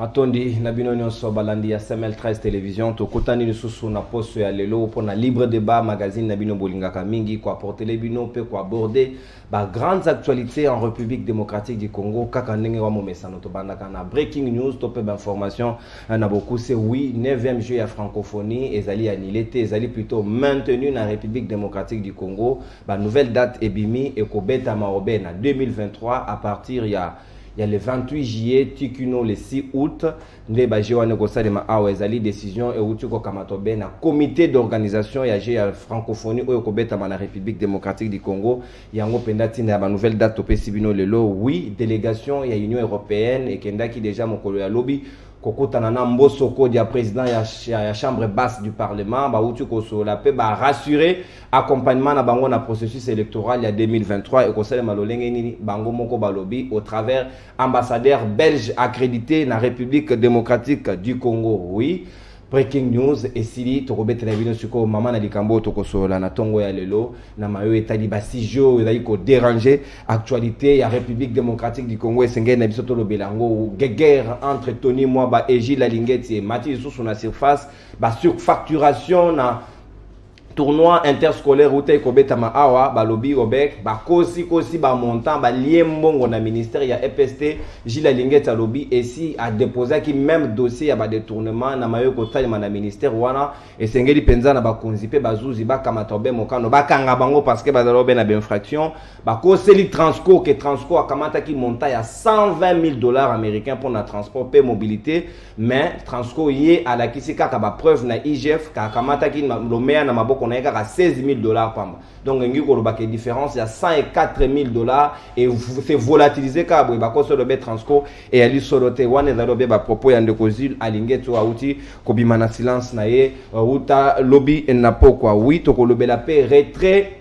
matondi na bino nyonso balandi ya semel 13 television tokutani lisusu na poso ya lelo mpo na libre débat magazine na bino bolingaka mingi koaportele bino mpe koaborde ba grandes actualités en république démocratique du congo kaka ndenge wa momesano tobandaka na breaking news to mpe bainformation eh, na bokuse oui 9e jeu ya francophonie ezali annule te ezali plutôt maintenu na république démocratique du congo banouvelle date ebimi ekobetama obe na 2023 à partir ya ya le 28 juillet ti kino le 6 août nde baje wana ekosalema awa ezali décision euti kokamatwa be na comité d'organisation ya jeu ya francophonie oyo ekobetama na république démocratique du congo yango mpenza ntina ya banouvelle date topesi bino lelo oui délégation ya union européenne ekendaki déjà mokolo ya lobi kokutana na mboso kodi ya président ya, ya chambre basse du parlement bauti kosolola mpe barassurer Accompagnement na bango na processus electoral ya 2023 ekosalema lolenge nini bango moko balobi au travers ambassadeur belge accrédité na République démocratique du Congo. Oui, breaking news esili tokobetela bino sikoyo mama na likambo oyo tokosolola na ntongo ya lelo na mayo etali basujet oyo ezali koderange actualité ya république démocratique du congo esengeli na biso tolobela yango guegere entre tony mwaba egile alingeti emati lisusu na surface basurfacturation na tournoi interscolaire uta ekobetama awa balobi obek bakosikosi bamontant balie mbongo na ministère ya epst gile alingeti alobi esi adeposaki meme dossier ya badetournement na mayo ekotalema na ministère wana esengeli mpenza na bakonzi mpe bazuzi bakamata obe mokano bakanga bango parce que bazali obe na bainfraction bakoseli transco ke transco akamataki montant ya 120 000 dollars américain mpo na transport mpe mobilité mais transco ye alakisi kaka bapreuve na igf kakamataki lomea na maboko na ye kaka 16 000 dollars pamba donc engi koloba ke différence ya 104 000 dollars e se volatilise kaka boye bakosi olobe transco eyali solo te wana ezali obe bapropos ya ndeko zile alingi ete oyo auti kobima na silence na ye uta lobi na pokwa wi tokolobela mpe retrait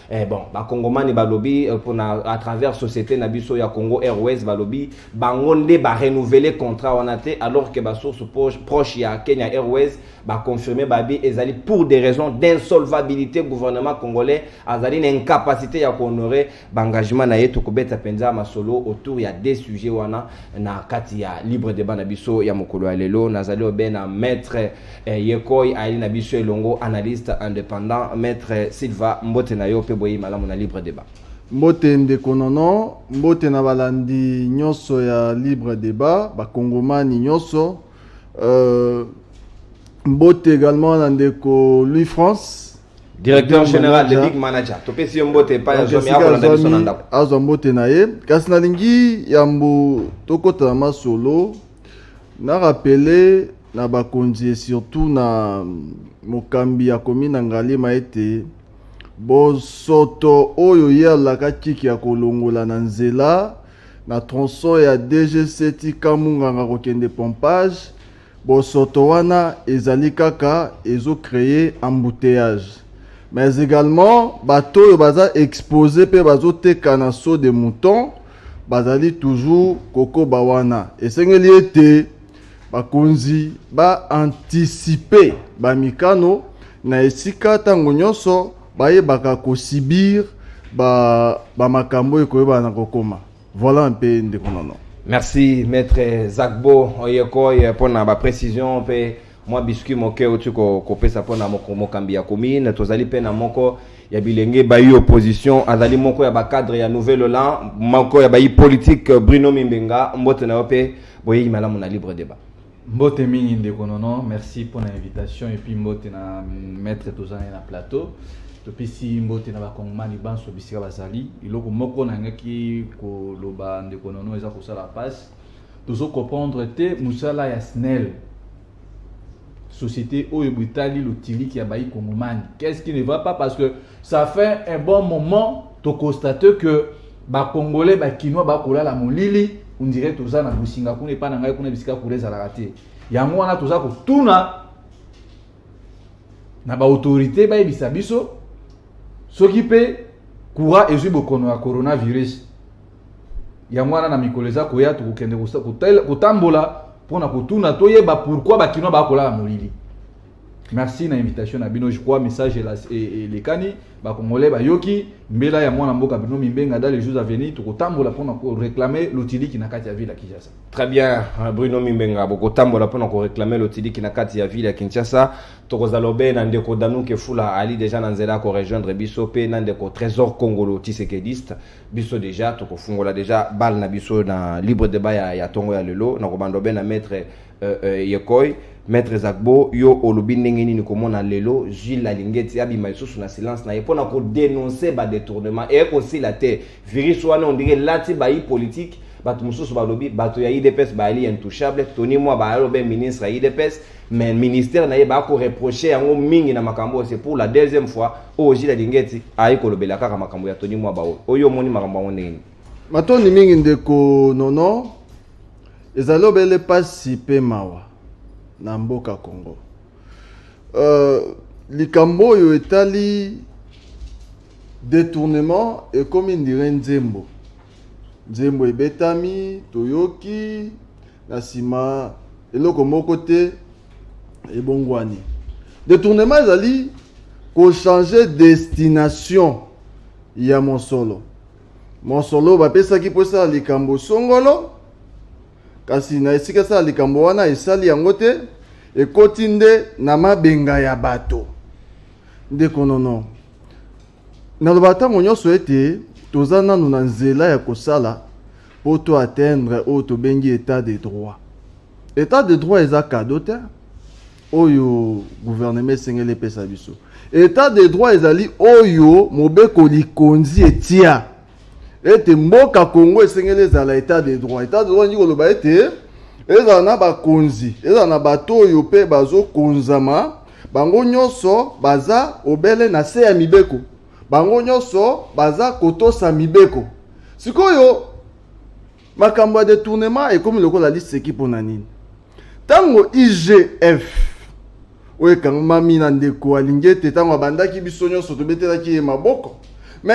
Eh bon, bakongomani balobi euh, pona à travers société na biso ya Congo Airways balobi bango nde ba renouveler contrat wana te alors que ba source proche ya Kenya Airways ba confirmer babi ezali pour des raisons d'insolvabilité gouvernement congolais azali na incapacité ya ko honorer ba engagement na ye tokobeta penza masolo autour ya des sujets wana na kati ya libre débat na biso ya mokolo ya lelo nazali obena maître Eh, ye koi ayeli na biso elongo analyste indépendant maître Silva mbote na yo mpe boyei malamu na libre débat. Mbote ndeko nono, mbote na balandi nyonso ya libre débat, bakongomani nyonso. Euh, mbote également na ndeko Louis France directeur général le big manager topesi yo mbote epai ya zomi akolanda biso na ndako azwa mbote na ye kasi nalingi yambo tokota na masolo Na rappeler na bakonzi et surtout na mokambi ya commune ya Ngaliema ete bosoto oyo ye alakaki ke akolongola na nzela na tronçon ya DGC ti Camp Munganga kokende pompage, bosoto wana ezali kaka ezo creer embouteillages. Mais egalement bato oyo baza exposer pe bazoteka na saut de mouton bazali toujours kokoba wana esengeli ete bakonzi ba anticipe bamikano na esika ntango nyonso bayebaka kosibir bamakambo ba oyo ekoyebana na kokoma voilà mpe ndeko nono merci maître zakbo oyekoy mpo na baprécision mpe mwa biscuit moke auti kopesa mpo na mokambi ya commune tozali mpe na moko ya bilenge bayi opposition azali moko ya bacadre ya nouvel oland moko ya bayi politique euh, bruno mimbenga mbote na yo mpe boyeyi malamu na libre débat mbote mingi ndeko nono merci mpo na invitation epuis mbote na maître tozali na plateau topesi mbote na bakongomani banso bisika bazali eloko moko nangaki koloba ndeko nono eza kosala passe Tozo comprendre te musala ya SNEL. Société oyo botali lotiliki ya bayi kongomani. Qu'est-ce qui ne va pas parce que ça fait un bon moment to constate que ba congolais ba kinois ba kolala molili on dirait toza na bosinga kuna epa na ngai kuna bisika kula ezalaka te yango wana toza kotuna na baautorité bayebisa biso soki mpe courant ezwi bokono ya coronavirus yango wana na mikolo eza koya tokokende kotambola mpo na kotuna toyeba pourkui bakinois bakolala molili merci na invitation na bino je crois message elekani bacongolais bayoki mbela ya mwana mboka bino mimbenga dans les jours à venir tokotambola mpona koreclame lotiliki na kati ya ville ya kinshasa très bien euh, bruno mimbenga bokotambola mpona koreclame lotiliki na kati ya ville ya kinshasa tokozala obe na ndeko danuke fula ali deja na nzela ya korejoindre biso mpe na ndeko trésor congolo tisekediste biso deja tokofungola deja bale na biso na libre debat ya, ya tongo ya lelo na kobanda obe na maître euh, euh, yekoi maître ezakbo yo olobi ndenge nini komona lelo gile alingeti abima lisusu na silence na ye mpo na kodenonce badetournement eye kosila te virus wana ondenge elati bayi politike bato mosusu balobi bato ya idps bayali intouchable tony mwa bayali obe ministre ya idps mais ministère na ye bakoreproche yango mingi na makambo oyo c'est pour la deuxième fois oyo jila dingeti ayi kolobela kaka makambo ya toni mwa baoyo oyo omoni makambo yango ndenge nini matondi mingi ndeko nono ezali obele mpasi mpe mawa na mboka congo uh, likambo oyo etali detournement ekomi ndire nzembo nzembo ebetami toyoki na nsima eloko moko te ebongwani detournement ezali kochange destination ya mosolo mosolo bapesaki mpo esala likambo songolo kasi na esika esala likambo wana esali yango te ekoti nde na mabenga ya bato ndeko nono Nalobaka ntango nyonso ete toza nanu na nzela ya kosala mpo to atteindre oyo tobengi etat de droit. Etat de droit eza cadeau te oyo gouvernement esengeli epesa biso. Etat de droit ezali oyo mobeko likonzi etia. ete mboka congo esengeli ezala etat de droit etat de droit elingi koloba ete ezala na bakonzi ezala na bato oyo mpe bazokonzama bango nyonso baza obele na se ya mibeko bango nyonso baza kotosa mibeko sikoyo makambo ya detournement ekomi lokola liseki mpo na nini Tango IGF oyo ekangmami na ndeko alingi ete ntango abandaki biso nyonso tobetelaki ye maboko me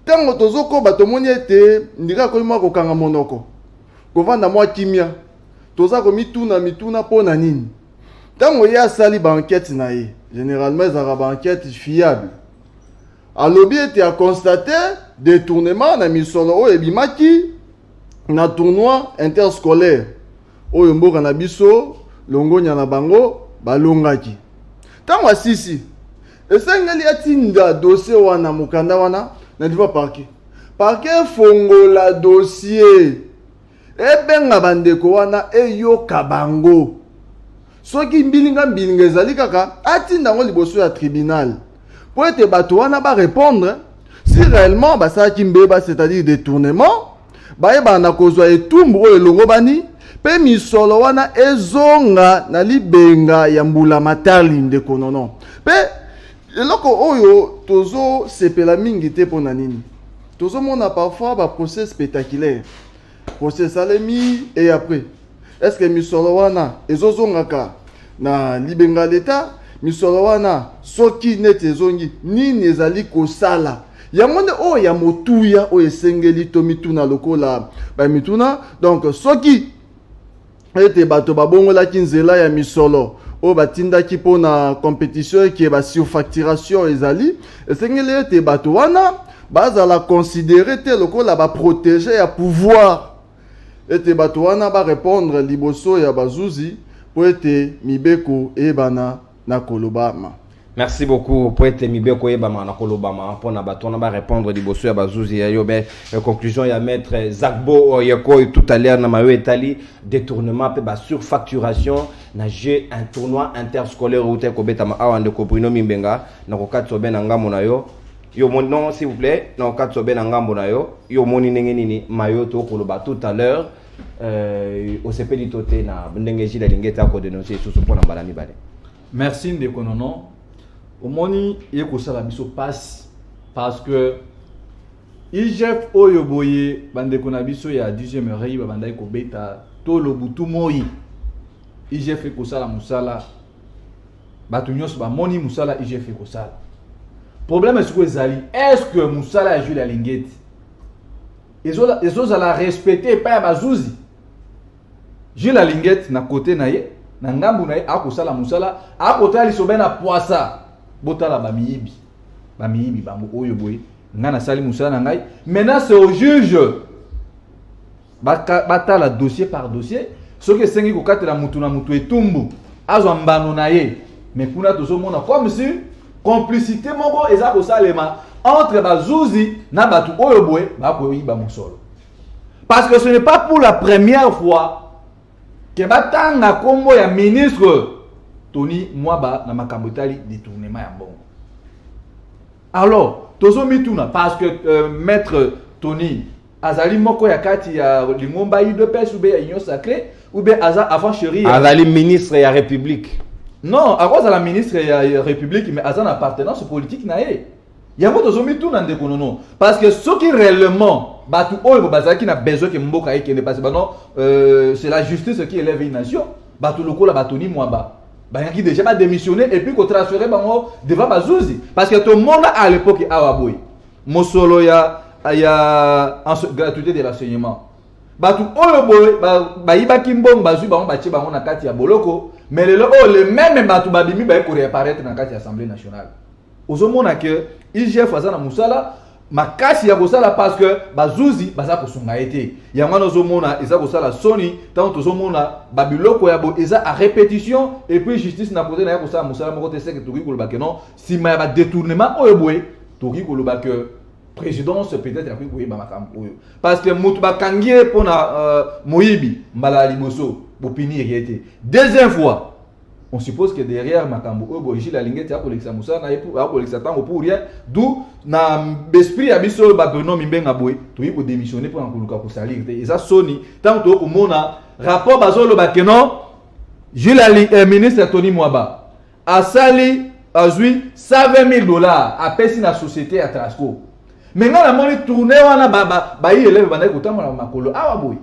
ntango tozokoba tomoni ete ndika akomi mwa kokanga monoko kovanda mwa kimia toza komituna mituna mpo na nini ntango ye asali baankete na ye généralement ezalaka baankete fiable alobi ete aconstate detournement na misolo oyo ebimaki na tournoi interscolaire oyo mboka na biso longonya na bango balongaki ntango asisi esengeli atinda dossier wana mokanda wana na niveau parquet parquet efongola dossier ebenga bandeko wana eyoka bango Soki mbilinga mbilinga ezali kaka atinda yango liboso ya tribunal mpo ete bato wana barepondre si réellement basalaki mbeba c'est-à-dire détournement bayebana na kozwa etumbu oyo elongobani mpe misolo wana ezonga na libenga ya mbula matali ndeko nono mpe eloko oyo tozosepela mingi te mpo na nini tozomona parfois baprocès spectaculaire procès esalemi et après est ce que misolo wana ezozongaka na libenga leta misolo wana soki neti ezongi nini ezali kosala yango nde oyo ya motuya oyo esengeli tomituna lokola bamituna donc soki ete bato babongolaki nzela ya misolo oyo batindaki mpo na competition eke basurfacturation ezali esengeli ete bato wana bazala considere te lokola baprotege ya pouvoir ete bato wana barepondre liboso ya bazuzi mpo ete mibeko eyebana na kolobama. Merci beaucoup po ete mibeko eyebama na kolobama mpo na bato wana barépondre liboso ya bazuzi ya yobe euh, conclusion ya maître zagbo oyekoi euh, tout à l'heure na mayo etali détournement mpe basurfacturation na jeu un tournoi interscolaire outa ekobetama awa ndeko bruno mimbenga na kokatisa obe na ngambo na yo yo omoni non s'il vous plaît na okati obe na ngambo na yo yo omoni ndenge nini mayo tokoloba tout à l'heure Euh, osepeli to te na ndenge jile alingi ete akodenonse lisusu mpo na mbala mibale merci ndeko nono omoni ye kosala biso mpasi parce que igf oyo boye bandeko na biso ya 10e oreille babandaki kobeta to lobutu moi igf ekosala mosala bato nyonso bamoni mosala igf ekosala problème esiko ezali est ce que mosala ya jules alingeti ezozala respecte epai ya bazuzi jules alingete na kote na ye na ngambu na ye akosala mosala akotala lisobe na pwasa botala bamiyibi bamiyibi bango oyo boye ngai nasali mosala na ngai maintenant c'est au juge batala dossier par dossier soki esengi kokatela motu na motu etumbu azwa mbano na ye mais kuna tozomona comme si complicité moko eza kosalema entre bazuzi na bato oyo boye bakoyiba mosolo parce que ce n'est pas pour la première fois que batanga nkombo ya ministre tony mwaba na makambo etali détournement ya mbongo alors tozomituna parce que euh, maître tony azali moko ya kati ya lingomba udps ube ya union sacré ube aza avant cherie azali ministre ya république non akozala ministre ya république mais aza na appartenance politique na ye yango tozomituna ndeko nono parce que soki réellement bato oyo bazalaki na besoin ke mboka ekende parce bano euh, c'est la justice qui élève une nation bato lokola batoni mwamba bayaki déjà badémissionne et puis kotransfere bango devant bazuzi parce que tomona à l'époque awa boye mosolo ya ya gratuité de l'enseignement bato oyo boye bayibaki mbongo bazwi bango batie bango na kati ya boloko me lelo oyo oh, le meme bato babimi baye koreaparaitre na kati ya assemblée nationale ozomona ke igf aza na mosala makasi ya kosala parce que bazuzi baza kosunga ye te yango wana ozomona eza kosala soni ntango tozomona babiloko ya bo eza a répétition et puis justice na kote na ye kosala mosala moko te seke tokoki koloba ke non sima ya ba detournement oyo boye tokoki koloba que présidence peut-être akoki koyeba makambo oyo parce que moto bakangi ye mpo na euh, moyibi mbala ya liboso bopinir ye te deuxième fois on suppose que derrière makambo oyo boye gile alingi ete akolekisa mosala na ye akolekisa ntango pour rien d'où na esprit ya biso oyo babruno mimbenga boye toyei kodémissionne mpo na koluka kosalir te eza soni ntango toyei komona rapport bazoloba ke non gile eh, ministre tony mwaba asali azwi 120.000 dollars apesi na société ya trasco me ngai namoni tourne wana bayi eleve bandaki kotambola makolo awa boye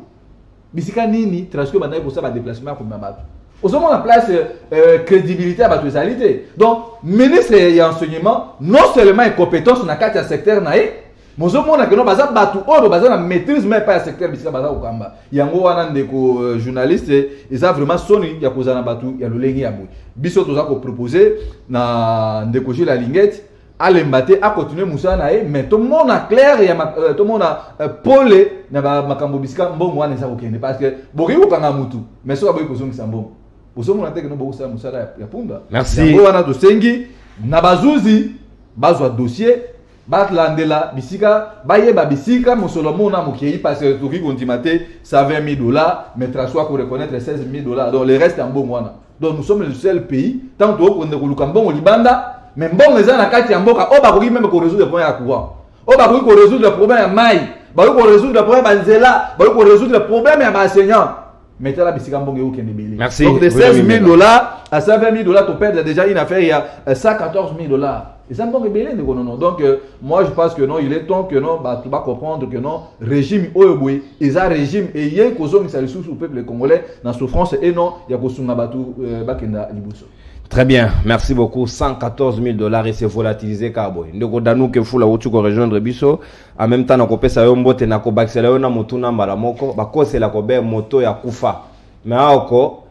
bisika nini trasco bandaki kosala badeplacement ya komema bato ozomona place euh, euh, crédibilité ya bato ezali te donc ministre ya enseignement non seulement incompétence na kati ya secteur na ye mozomona keno baza bato oyo baza na maîtrise mai epai ya secteur bisika baza kokamba yango wana ndeko euh, journaliste eza vraiment soni ya kozala na bato ya lolenge ya boye biso toza kopropose na ndeko gile alingete alemba te akontinue mosala na ye mais tomona claire ya euh, tomona euh, pole na makambo bisika mbongo wana eza kokende parce que bokoki kokanga motu mais soki aboyi kozongisa mbongo bozomona te keno bokosala mosala ya punda yango wana tosengi na bazuzi bazwa dossier balandela bisika bayeba bisika mosolo mona mokei parce que tokoki kondima te 120 000 dollars mais traso akoreconnaitre 16 000 dollars donc le reste ya mbongo wana donc nous sommes le seul pays ntango tokokende koluka mbongo libanda mais mbongo eza na kati ya mboka oyo bakoki meme koresoudre problème ya courant oyo bakoki koresoudre problème ya mai bakoki koresoudre problème ya nzela bakoki koresoudre problème ya baenseignant mais tala bisika mbongo eokende ebele Merci. donc de Vous avez 16 000 mis là. dollars à 120 000 dollars toperdre déjà une affaire ya euh, 114 000 dollars eza mbongo ebele ndeko nono donc euh, moi je pense que non il est temps que non bato bacomprendre que non régime oyo boye eza régime eye kozongisa lisusu peuple congolais na souffrance et non ya kosunga bato euh, bakenda liboso Très bien, merci beaucoup. 114 000 dollars et c'est volatilisé Cowboy. Ndeko Danou Kefula Wuchuko rejoindre Bisso. en même temps nakopesa yo mbote nakobakisela yo na motuna mbala moko bakosela kobe moto ya kufa me aoko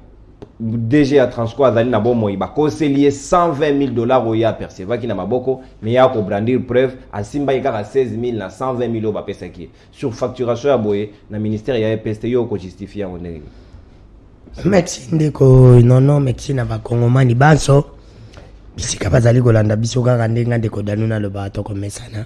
dg ya transco azali na bomoi bakoseli ye 120 000 dollars oyo ye apercevaki na maboko me ye akobrandir preuve asimbaki kaka 16 000 na 120 000 oyo bapesaki ye sur facturation ya boye na ministère ya epst yo okojustifie yango ndenge nini merci ndeko nono merci na bakongomani banso bisika bazali kolanda biso kaka ndenge ndeko danu nalobaka tokomesana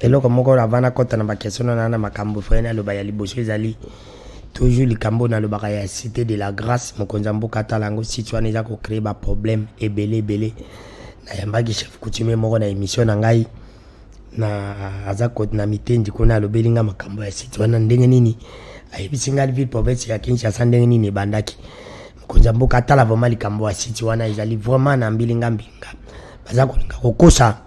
eloko moko avant nakɔta na bakestion na na makambo frene aloba ya liboso ezali toujours likambo nalobaka ya cité de la grâce mokonzi ya mboka atala yango site wana eza kocree baproblème ebele ebele nayambaki chef coutumier moko na émission na ngai na aza kote na mitendi kuna alobeli ngai makambo ya site wana ndenge nini ayebisi ngai ville province ya kinshasa ndenge nini ebandaki mokonzi ya mboka atala vraimen likambo ya site wana ezali vraimen na mbilinga mbilinga baza kolinga kokosa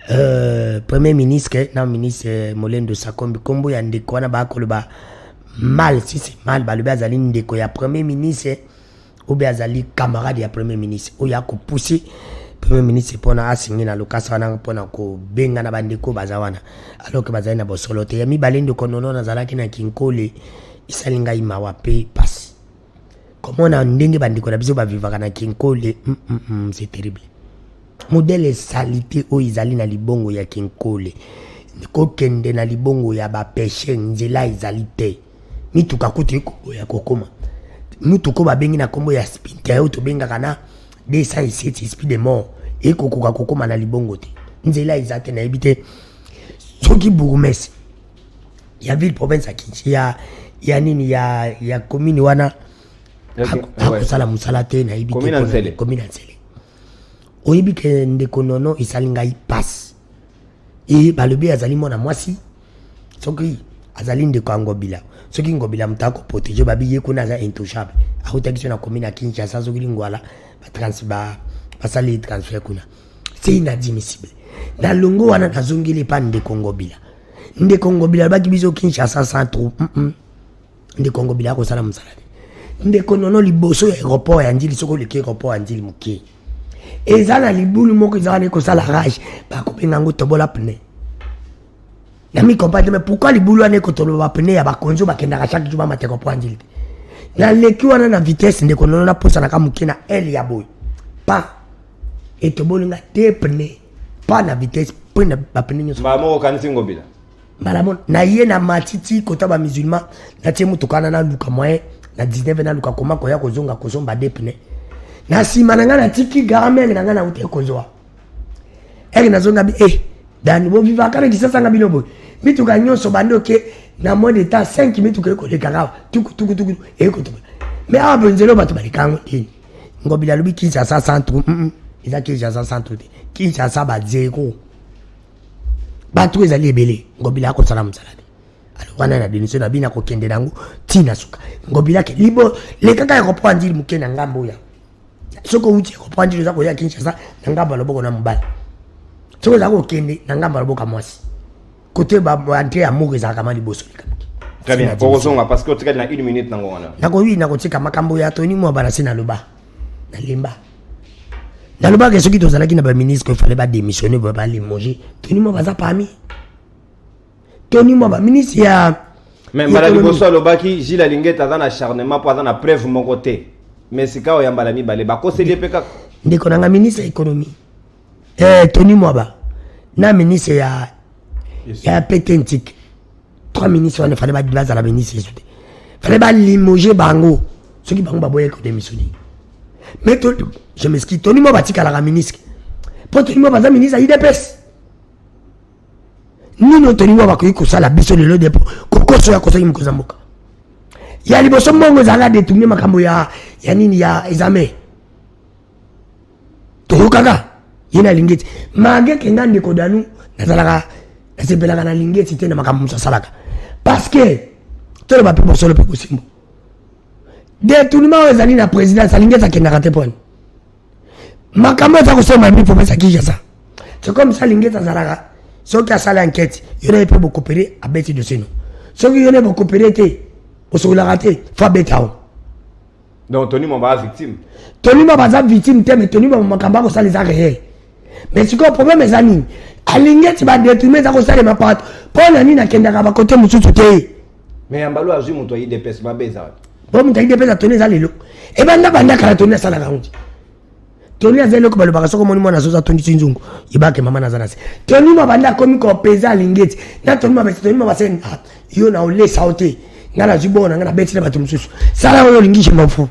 Euh, premier ministre na ministre molendo sakombi nkombo ya ndeko wana bakoloba mal si c'est mal balobi azali ndeko ya premier ministre obe azali camarade ya premier ministre oyo akopousse premier ministre mpona asingi na lokasa wana mpona kobenga na bandeko baza wana alors ke bazali na bosolo te ya mibale ndeko nono nazalaki na kinkole esali ngai mawa mpe mpasi komona ndenge bandeko na biso bavivaka na kinkole mm, mm, mm, c'est terrible modele salite oyo ezali na libongo ya kinkole kokende na libongo ya bapeshe nzela ezali te mituka kutu ekoboya kokoma mutuka oyo babengi na nkombo ya spinter oyo tobengaka na 207 speed de mort ekokoka kokoma na libongo te nzela eza te nayebi te soki bourgmestre ya ville province ya kinshi ya, ya nini ya, ya commune wana akosala mosala te nayebi commune ya nsele oyebi ke ndeko nono esali ngai pasi e balobi azali mwana mwasi soki azali ndeko ya ngobila soki ngobila moto akoprotege babi ye kuna aza intouchable autaki so na commune ya kinshasa soki lingwala basali transfert kuna c'est inadmissible na longo wana nazongeli epa ndeko ngobila ndeko ngobila alobaki biso kinshasa sans trou mm -mm. ndeko ngobila akosala mosala te ndeko nono liboso ya aéroport ya ndili soki oleki aéroport ya ndili moke eza na libulu moko eza wana ekosala rage bakobenga yango tobola pneu na mi comprendre mais pourquoi libulu wana ekotolo ba pneu ya bakonzi oyo bakendaka chaque jour bamata comprendre te naleki wana na vitesse ndeko nono naposanaka moke na l ya boye pa etoboli nga te pneu pa na vitesse mpe na bapneu nyonso mbala moko okanisi ngobila mbala moko naye na matiti kota bamusulman natie motuka wana naluka moyen na 19 naluka koma koya kozonga kozomba de pneu na nsima na ngai natiki garamenge na ngai nauti ekozwa eke nazonga bi eh dani bovivaka na kisasa nga bino boye mituka nyonso bandi oke na moins de temps 5 mituka ekoleka kawa tukutukutuku ekotuka mais awa benzelo bato baleka yango te ngobila alobi kinshasa centre eza kinshasa centre te kinshasa bazero bato ezali ebele ngobila akosala mosala te alobana na denise na bino akokende na yango ntina suka ngobila ke libo lekaka ya kopoa nzili moke na ngambo oyo soki outi ekoprendre oza koya kinshasa na ngambo ya loboko na mobali soki oza kokende na ngambo ya loboko ya mwasi kote baentre ya moko ezalaka ma liboso likambo très bien bokozonga parce que otikali na une minute nango wana nakoyi nakotika makambo ya toni mwa balasi naloba nalemba nalobaka soki tozalaki na baministre efale badémissionne balimogé toni mwa baza parmi tony mwaba ministre ya me mbala liboso alobaki gile alingete aza na acharnement mpo aza na preuve moko te me sikawa ya mbala mibale bakoseli ye mpe kaka ndeko na nga ministre ya économie eh, tony mwaba na ministre ya ya pete ntike trois ministre wana fale bazala ministre yesu te fale balimoge bango soki bango baboyaki kodemissione mais je meski tony mwaba atikalaka ministre mpo tony mwaba aza ministre ya idps nini otoni mwa bakoki kosala biso lelo depo kokoso ya kosaki mokonzi ya mboka ya liboso mbongo ezalaka detourne makambo ya, ya nini ya exame toyokaka ye na lingeti mage kenga ndeko danu nazalaka nasepelaka na lingeti te na makambo mosu asalaka parce que toloba mpe bosolo mpe kosimbo detournement oyo ezali na présidence alingeti akendaka te pwani makambo aza kosema ya mipo pesa kinshasa c'est comme ça lingete azalaka soki asali enquête yo naye mpe bokopere abeti dosino soki yo naye bokopere te osokolaka te fo abeta o donc tony mamba aza victime tony mamba aza victime te mais tony mamba makambo akosala eza réel mais sikoyo problème eza nini alingi eti badetourne eza kosalema pato mpo na nini akendaka bakote mosusu te mais yambalo azwi moto ya idps mabe eza wapi po moto ya idps atoni eza lelo ebanda banda kala toni asalaka yango te toni aza eloko balobaka soki omoni mwana azoza tondisi nzungu yebake mama naza na se toni mabanda akomi kopeza alingi eti na toni mabese toni mabase ah, yo na olesa yo te ngai nazwi bona ngai nabeti na bato mosusu sala oyo olingi je m'en fous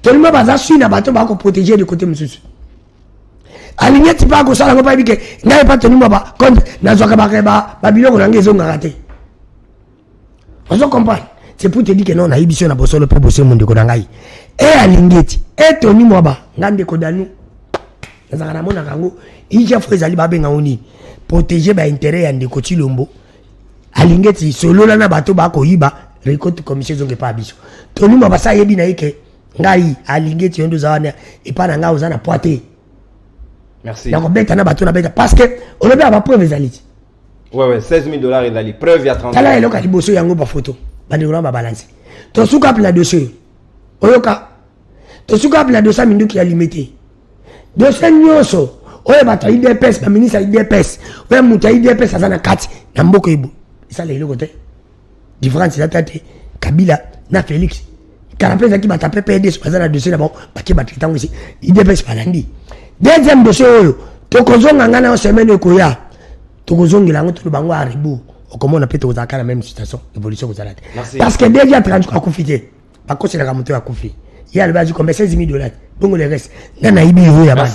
tolima baza sui na bato bako proteger de côté mosusu alingi eti mpe akosala yango payebi ke ngai mpa tonima ba compte nazwaka babiloko na ngai ezongaka te ozo comprendre c'est pour te dire que non nayebi biso na bosolo mpe bosembo ndeko na ngai e alingi eti etoni mwa ba ngai ndeko danu nazalaka namonaka yango ija fo ezali babenga yango nini protege bainteret ya ndeko tilombo alingeti solola na bato bakoyiba recote commission ezonga epai ya biso tolima basa ayebi na ye ke ngai alingeti yo nde oza wana epai na ngai oza na poi te nakobeta na bato nabeta parce que olobi ya bapreuve ezali ti wewe 16000 dollars ezali preuve ya 30 tala eloko ya liboso yango bafoto bandeko na babalansi tosuka mpe na dossier oyoka tosuka wapi na dosa minduki ya limete dosie nyonso oyo bato ya idps baministre ya idps oyo moto ya idps aza na kati na mboka ebo esala eloko te différence eza ta te kabila na félix kala mpe ezalaki bato ya ppds baza na dosie na bango bake bato ntango esi idps balandi deuxième dosie oyo tokozonga ngai nayo semaine ekoya tokozongela yango toloba yango arebour okomona mpe tokozalaka na même situation évolution kozala te parce que deja 30 akufi te bakoselaka moto ya kufi ye alobi azwi kombe 16000 dollars bongo le reste nga nayibi yoyo ya bana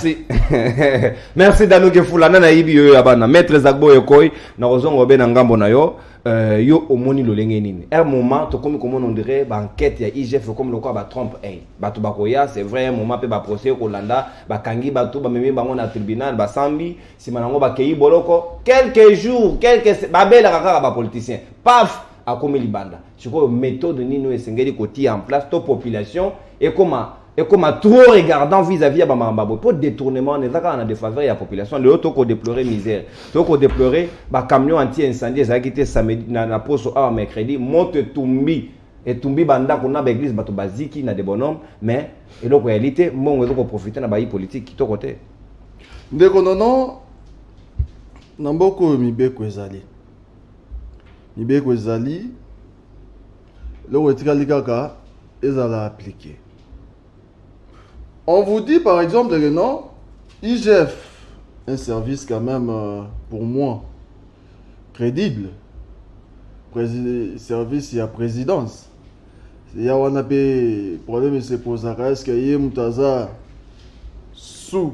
merci dano kefula nga nayibi yoyo ya bana maître zagbo ekoi nakozonga obe na ngambo na yo euh, yo omoni lolenge nini un moment tokomi komona ondire baenquête ya igf ekomi lokola batrompe ei bato bakoya c'est vrai un moment mpe baprocès ekolanda bakangi bato bamemi bango na tribunal basambi nsima na yango bakei boloko quelques jours quelques babelaka kaka bapoliticien paf akomi libanda sikoyo methode nini oyo esengeli kotia en place to population ekoma ekoma trop regardant vis-à-vis ya bamamba boye mpo détournement wana eza kaka na défaveur ya population lelo to kodeplorer misère to kodeplorer bacamion anti incendie ezalaki te samedi na, na poso awa mercredi moto etumbi etumbi bandako na baeglise bato baziki na debonome mais eloko yali te mbongo ezo koprofite na bayi politike kitoko te ndeko nono na mboka oyo mibeko ezali mibeko ezali eloko etikali kaka ezala appliqué on vous dit par exemple que non igf un service quand même euh, pour moi crédible Prési service ya présidence ya wana mpe problème esepozaka est ce que ye moto aza sous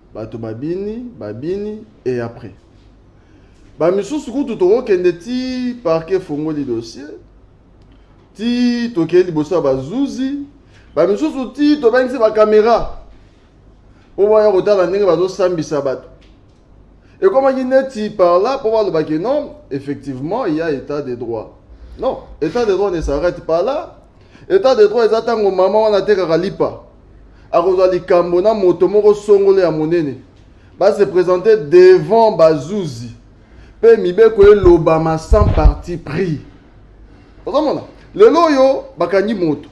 bato babini babini e après bamisusu kutu tokokende ti parke efongoli dossier ti tokei liboso ya bazuzi bamisusu ti tobangisi bakamera mpo baya kotala ndenge bazosambisa bato ekomaki neti par là mpo balobaki non effectivement il y a état de droit non état de droit ne s'arrête pas là état de droit eza ntango mama wana atekaka lipa akozwa likambo na moto moko songolo ya monene base presente devant bazuzi mpe mibeko elobama sans parti pris ozomona lelo oyo bakangi moto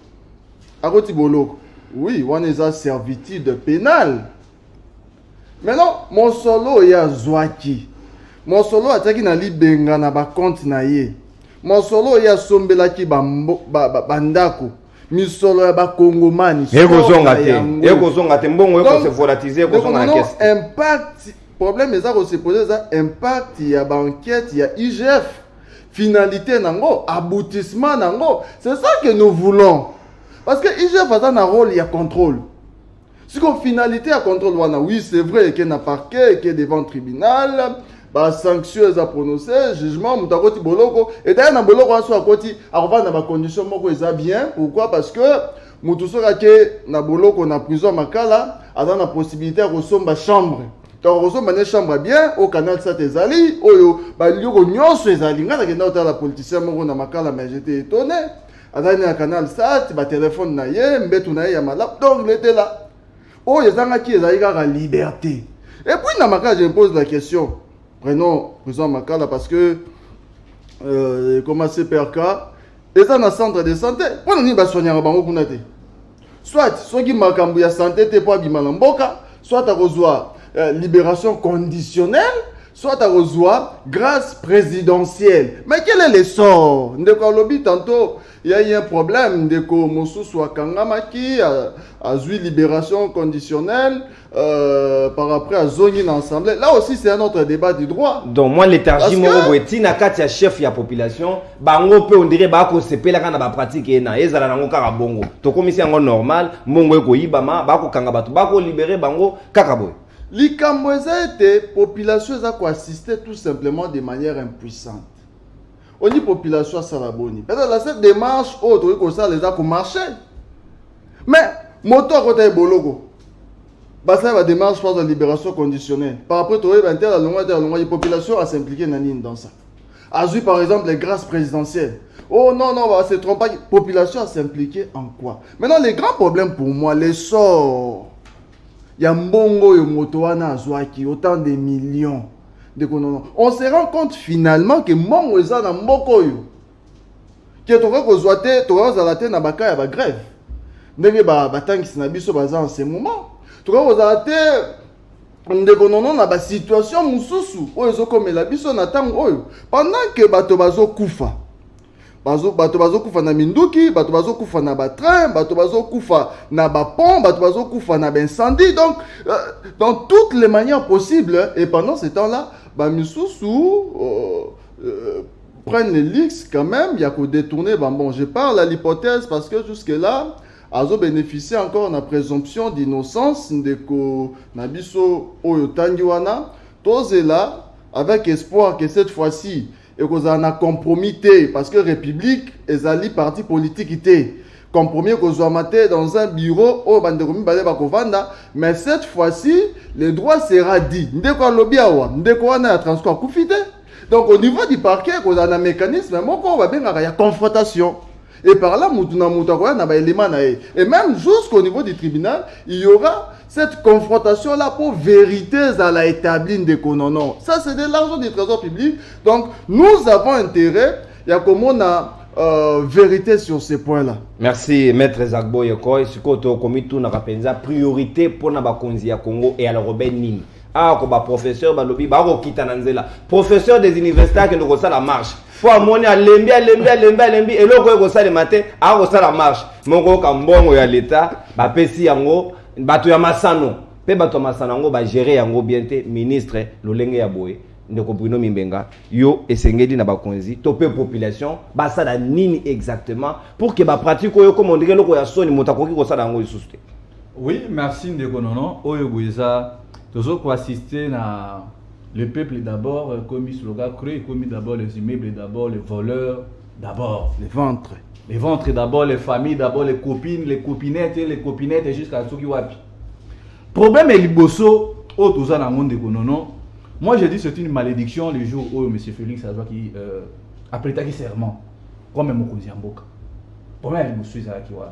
akoti boloko oui wana eza servitude penale maintenant mosolo oyo ye azwaki mosolo oyo atiaki na libenga na bakonte na ye mosolo oyo ye asombelaki bandako ba, ba, ba misolo ya bakongomani ekozonga te ekozonga te mbongo ekose volatise ekozonga na kese impact problème eza kosepose eza impact ya baenquete ya igf finalité nango aboutissement nango c'est ça que nous voulons parce que igf aza na rôle ya contrôle siko finalité ya contrôle wana oui c'est vrai eke na parquet eke devant tribunal basanction eza prononce jugement moto akoti boloko edaya na boloko wana soki akoti akovanda na bacondition moko eza bien pourquoi parce que moto soki ake na boloko na prison ya makala aza na possibilité ya kosomba chambre donc okosomba nde chambre bien oyo canal sat ezali oyo balioko nyonso ezali ngai nakenda kotala politicien moko na makala mais jete etone azali na canal sat batelefone na ye mbetu na ye ya malamu donc letela oyo ezangaki ezali kaka liberté et puis na makala je me pose la question prenons président makala parce que euh, comment cprk eza na centre de santé mpo na nini basoignaka bango kuna te soit soki makambo ya sante te mpo abima na mboka soit akozwa euh, liberation conditionnelle soit akozwa grâce présidentielle mais quel est l'essor ndeko alobi tantôt ya ye un problème ndeko mosusu akangamaki azwi liberation conditionnelle Euh, par après azongi na ensemble là aussi c'est un autre débat du droit donc moi léthargie moko boye ntina kati ya chef ya population bango mpe ondire bakosepelaka na bapratique ye na ezala nango kaka bongo tokomisi yango normal mbongo ekoyibama bakokanga bato bakolibere bango kaka boye likambo eza ete population eza koassiste tout simplement de manière impuissante Oni population asala boni? Pesa la cette démarche oyo tokoki kosala eza ko marcher. Mais moto akota eboloko basala ba démarche pas de libération conditionnelle. Par rapport to yeba ntela longwa ntela longwa population a s'impliquer na nini dans ça. Azui par exemple les grâces présidentielles. Oh non non, bah, se trompe pas. Population a s'impliquer en quoi Maintenant les grands problèmes pour moi, les sorts ya mbongo oyo moto wana azwaki autant des millions ndeko nono on se rend compte finalement ke mbongo eza na mboka oyo ke tokoki kozwa te tokoki kozala te na baka ya bagrève ndenge batangisi na biso baza en ce moment tokoki kozala te ndeko nono na basituation mosusu oyo ezokomela biso na ntango oyo pendant ke bato bazokufa bazo bato bazokufa na minduki bato bazokufa na batrain bato bazokufa na bapont bato bazokufa na baincendie donc euh, dans toutes les manières possibles et pendant ce temps là bamisusu euh, euh, prennent les lix quand même ya kodétourner bambon je parle à l'hypothèse parce que jusque là azo bénéficier encore na présomption d'innocence ndeko na biso oyo tangi wana tozela avec espoir que cette fois-ci ekozala na compromis te parce que république ezali parti politique te compromis ekozwama te dans un bureau oyo bandeko mibale bakovanda mais cette fois-ci le droit sera dit ndeko alobi awa ndeko wana ya transport akufi te donc au niveau du parquet ekozala na mécanisme moko oyo babengaka ya confrontation et par là motu na motu akoya na baelema na ye et même jusqu'au niveau du tribunal il y aura cette confrontation là pour vérité à la établie de non non ça c'est de l'argent du trésor public donc nous avons intérêt ya komona euh, vérité sur ce point là merci maître zagbo yekoy sikoyo tokomi tunaka mpenza priorité mpo na bakonzi ya congo et alors robin nini awa ko baprofesseur balobi bakokita na nzela professeur des universités akende kosala marche fo amoni alembi alembi alembi alembi eloko oyo ekosalema te akosala marche mokoyoka mbongo ya leta bapesi yango bato ya masano mpe bato ya masano yango bagere yango bien te ministre lolenge ya boye ndeko bruno mimbenga yo esengeli na bakonzi to mpe population basala nini exactement pour ke bapratique oyo ekoma ondenge eloko ya soni moto akoki kosala yango lisusu te oui merci ndeko nono oyo boye eza tozo koassiste na Le peuple d'abord euh, comme slogan creux comme d'abord les immeubles d'abord les voleurs d'abord les ventres les ventres d'abord les familles d'abord les copines les copinettes les copinettes jusqu'à soki wapi problème est liboso oyo toza nango ndeko nono moi je dis c'est une malédiction le jour oyo monsieur félix azwaki euh, apretaki serment comme mokonzi ya mboka problème ya liboso ezalaki wana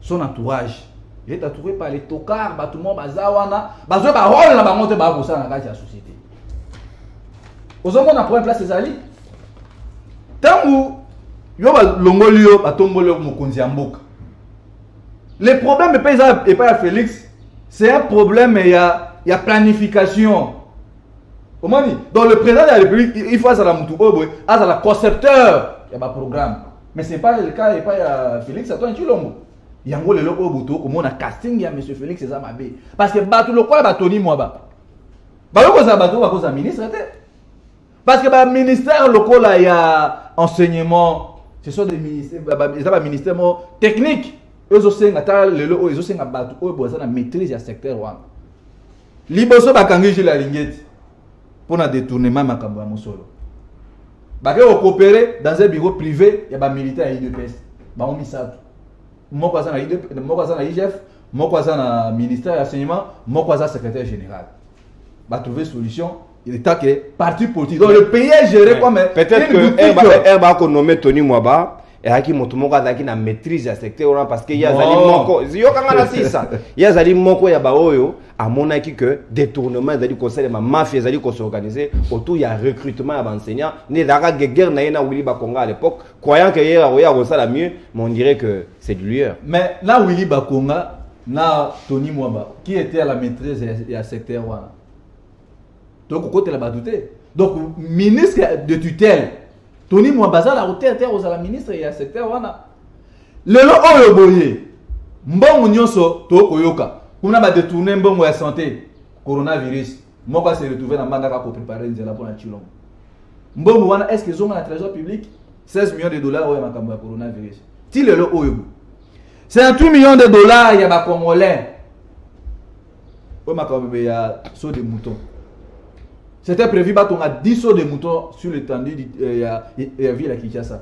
son entourage il est entouré par les tocards bato moko baza wana bazwa barole na bango te baya kosala na kati ya société ozomona problème place ezali ntango yo balongoli yo batomboli yo mokonzi ya mboka le problème epai eza epai ya félix c'est un problème ya, ya planification omoni donc le président de la république il faut azala motu oyo boye azala concepteur ya baprogramme mais c'est pas le cas epai ya félix antoine tshilombo yango lelo oyo boto okomona casting ya monsieur félix eza mabe parce que bato lokola batoni mwaba bayo kozala bato oyo bakozala ministre te parce que baministère lokola ya enseignement ce sont des ministères eza baministère moko technique oyo ezosenga ata lelo oyo ezosenga bato oyo baza na maîtrise ya secteur wana liboso bakangi jile alingeti mpo na detournement ya makambo ya mosolo bake kokopere dans un bureau privé ya bamilitaire ya udps bango misato moko aza na UDP, moko aza na igf moko aza na ministère ya enseignement moko aza secrétaire général batrouve solution état que parti politique donc le pays est géré comme peut-être que herba akonomme tony mwaba eyaki moto moko azalaki na maîtrise ya secteur wana parce que ye azali oh. moko yokanga na sisa ye azali moko ya baoyo amonaki que détournement ezali kosalema mafia ezali kosorganize autour ya recrutement ya baenseignant nde ezalaka guerre na ye na willy bakonga à l'époque croyant que ye akoya akosala mieux mais on dirait que c'est du lieur mais na willy bakonga na tony mwaba qui était à la maîtrise ya secteur wana donc kokotela bato te donc ministre de tutelle toni mwa bazala kotere te kozala ministre ya secteur wana lelo oyo boye mbongo nyonso tokoyoka kuna badetourne mbongo ya sante coronavirus moko ase retrouve na mbandaka koprepare nzela mpo na chilongo mbongo wana est ce que ezonga na trésor public 16 millions de dollars oyo ya makambo ya coronavirus ti lelo oyo bo 58 millions de dollars ya bacongolais oyo makambo bebe ya saut de mouton c'était prévu batonga 10 saut de mouton sur l'étendue euh, ya, ya ville ya kinshasa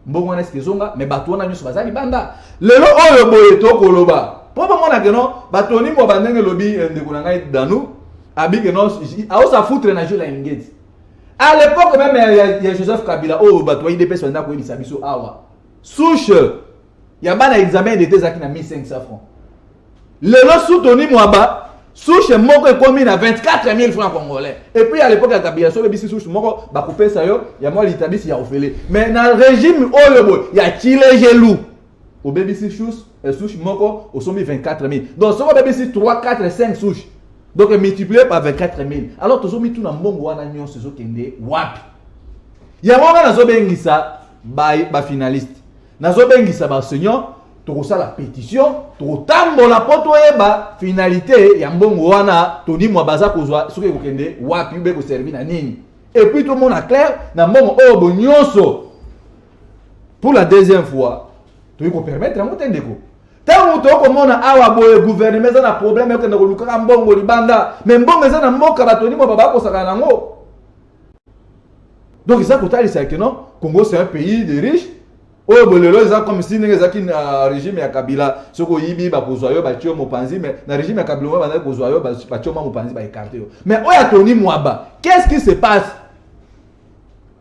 mbongo wana eske ezonga mais bato wana nyonso baza libanda lelo oyo boye tokoloba mpo bamona keno batoni mwa bandenge elobi eh, ndeko na ngai danu abi keno aosa foutre na jeu la ingeti à l'époque même ya, ya, ya joseph kabila oyo oh, bato ba idps banda koyebisa biso awa souche ya bana examen dete ezalaki na 1500 francs lelo su toni mwaba souche moko ekomi na 24 000 francs congolais et puis à l'époque ya kabila so obebisi souche moko bakopesa yo ya mwa litabisi ya ofele mais na régime oyo boye ya kilejelu obebisi souche eh, souche moko osombi 24 000 donc soki obebisi 3 4 5 souche donc multiplier par 24 000 alors tozomituna mbongo wana nyonso ezokende wapi yango wana nazobengisa bafinaliste ba Nazo bengisa ba enseignants tokosala petition tokotambola mpo toyeba finalité ya mbongo wana toni mwa baza kozwa soki ekokende wapi ube ekoservi na nini epuis tomona claire na mbongo oyo bo nyonso pour la deuxième fois toyei kopermettre yango te ndeko ntango moto okomona awa boye guvernema eza na problème ekokende kolukaka mbongo libanda me mbongo eza na mboka batoni mwa babakosaka na yango donc eza kotalisa que non congo c'est un pays de riche oyo bolelo eza comme si ndenge ezalaki na régime ya kabila soki oyibi bakozwa yo batye yo mopanzi mais na régime ya kabila oyo bandaki kozwa yo batye ma mopanzi baekarte yo mais oyo ya toni mwaba qu'est ce qui se passe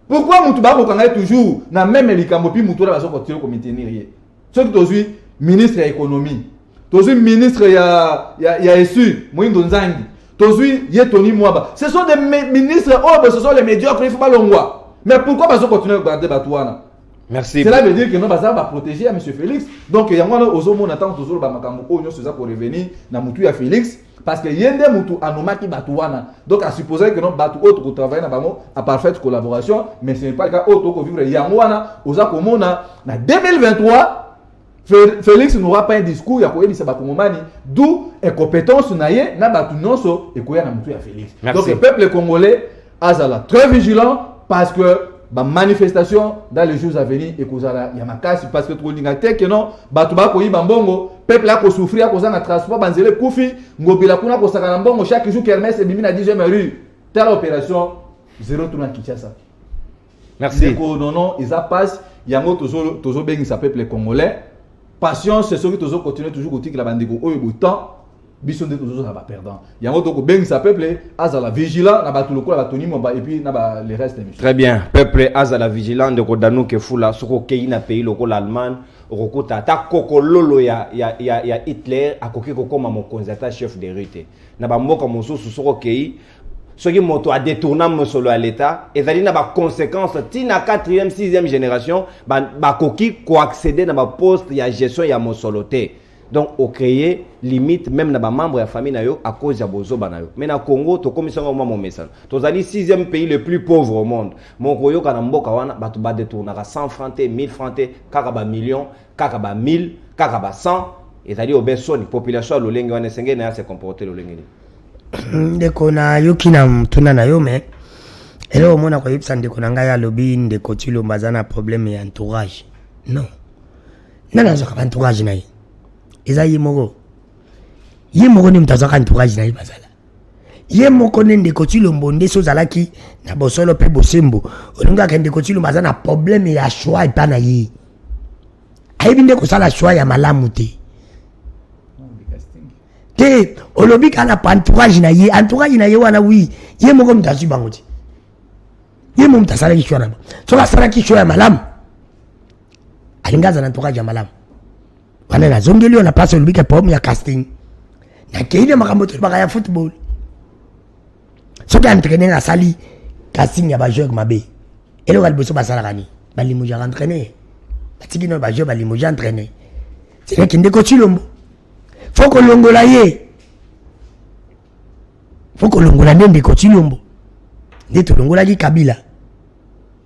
pourquoi motu bakoka ngai toujours na meme likambo mpi motu wana bazokotiyo komitenir ye soki tozwi ministre ya ekonomi tozwi ministre ya, ya, ya esu moindo nzangi tozwi ye toni mwaba ce sont des ministres oyo oh, ce sont les médiocres ifo balongwa mais pourquoi bazo continue kogarde bato wana Merci. Cela veut dire que non baza ba protéger à monsieur Félix. Donc yango wana ozomona tant tozoloba makambo oyo nyonso eza ko revenir na mutu ya Félix parce que ye nde mutu anomaki bato wana donc asupposaki que non bato oyo tokotravaille na bango a parfaite collaboration mais ce n'est pas le cas oyo tokovivre yango wana oza komona na 2023 Félix n'aura pas un discours ya koyebisa bakongomani d'où incompétence na ye na bato nyonso ekoya na motu ya Félix donc peuple congolais azala très vigilant parce que ba manifestation dans les jours à venir ekozala ya makasi parce que tokolinga te ke non bato bakoyiba mbongo peuple akosouffrir akozanga transport banzela ekufi ngobila kuna kosakana mbongo chaque jour kermes ebimi na 10e rue tala opération zero tuna kinshasa Merci. Ndeko nono eza pasi yango tozo tozo bengisa peuple congolais. Patience soki tozo continuer toujours kotikela bandeko oyo bo temps biso nde tozozala baperdant yango tokobengisa peuple azala vigilant na bato lokola batoni momba epuis na ba le reste ya très bien peuple azala vigilant ndeko danuke fula soki okei na pays lokola allemagne okokuta ata kokololo ya, ya, ya, ya hitler akoki kokoma mokonzi ata chef de rue te na bamboka mosusu soki okei soki moto adetourna mosolo ya leta ezali na baconséquence ti na 4e 6e génération bakoki ba koaccéder na baposte ya gestion ya mosolo te donc ocreye limite même na bamembre ya famille na yo à cause ya bozoba na yo mais na congo tokomisi yango mwa momesano tozali 6e pays le plus pauvre au monde moko oyoka na mboka wana bato badetournaka 100 franc te 1000 franc te kaka bamillion kaka ba 1000 kaka ba 100 ezali obe soni population ya lolenge wana esengeli na ya se comporte lolenge nini ndeko nayoki na motuna na yo me eloko moko nakoyebisa ndeko na ngai alobi ndeko tilomba aza na problème ya entourage non nani azwaka ba entourage na ye eza ye moko ye moko nde moto azwaka entourage na ye bazala ye moko nde ndeko tilombo nde so ozalaki na bosolo mpe bosembo olingaka ndeko tilombo aza na problème ya choix epa na ye ayebi nde kosala choix ya malamu te te olobi kaka na entourage na ye entourage na ye wana wi ye moko moto azwi bango te ye mo moto asalaki sho na bango soki asalaki sho ya malamu alingi aza na entourage ya malamu wana nazongeli yo na mpasi olobi ke poeme ya casting nakei na makambo tolobaka ya football soki entraîner asali casting ya bajeur mabe eloko ya liboso basalaka nini balimujaka entraîner batiki nao bajeur balimuje entraîner selekende kotsilombo fo kolongola ye fo kolongola nde ndeko cilombo nde tolongolaki kabila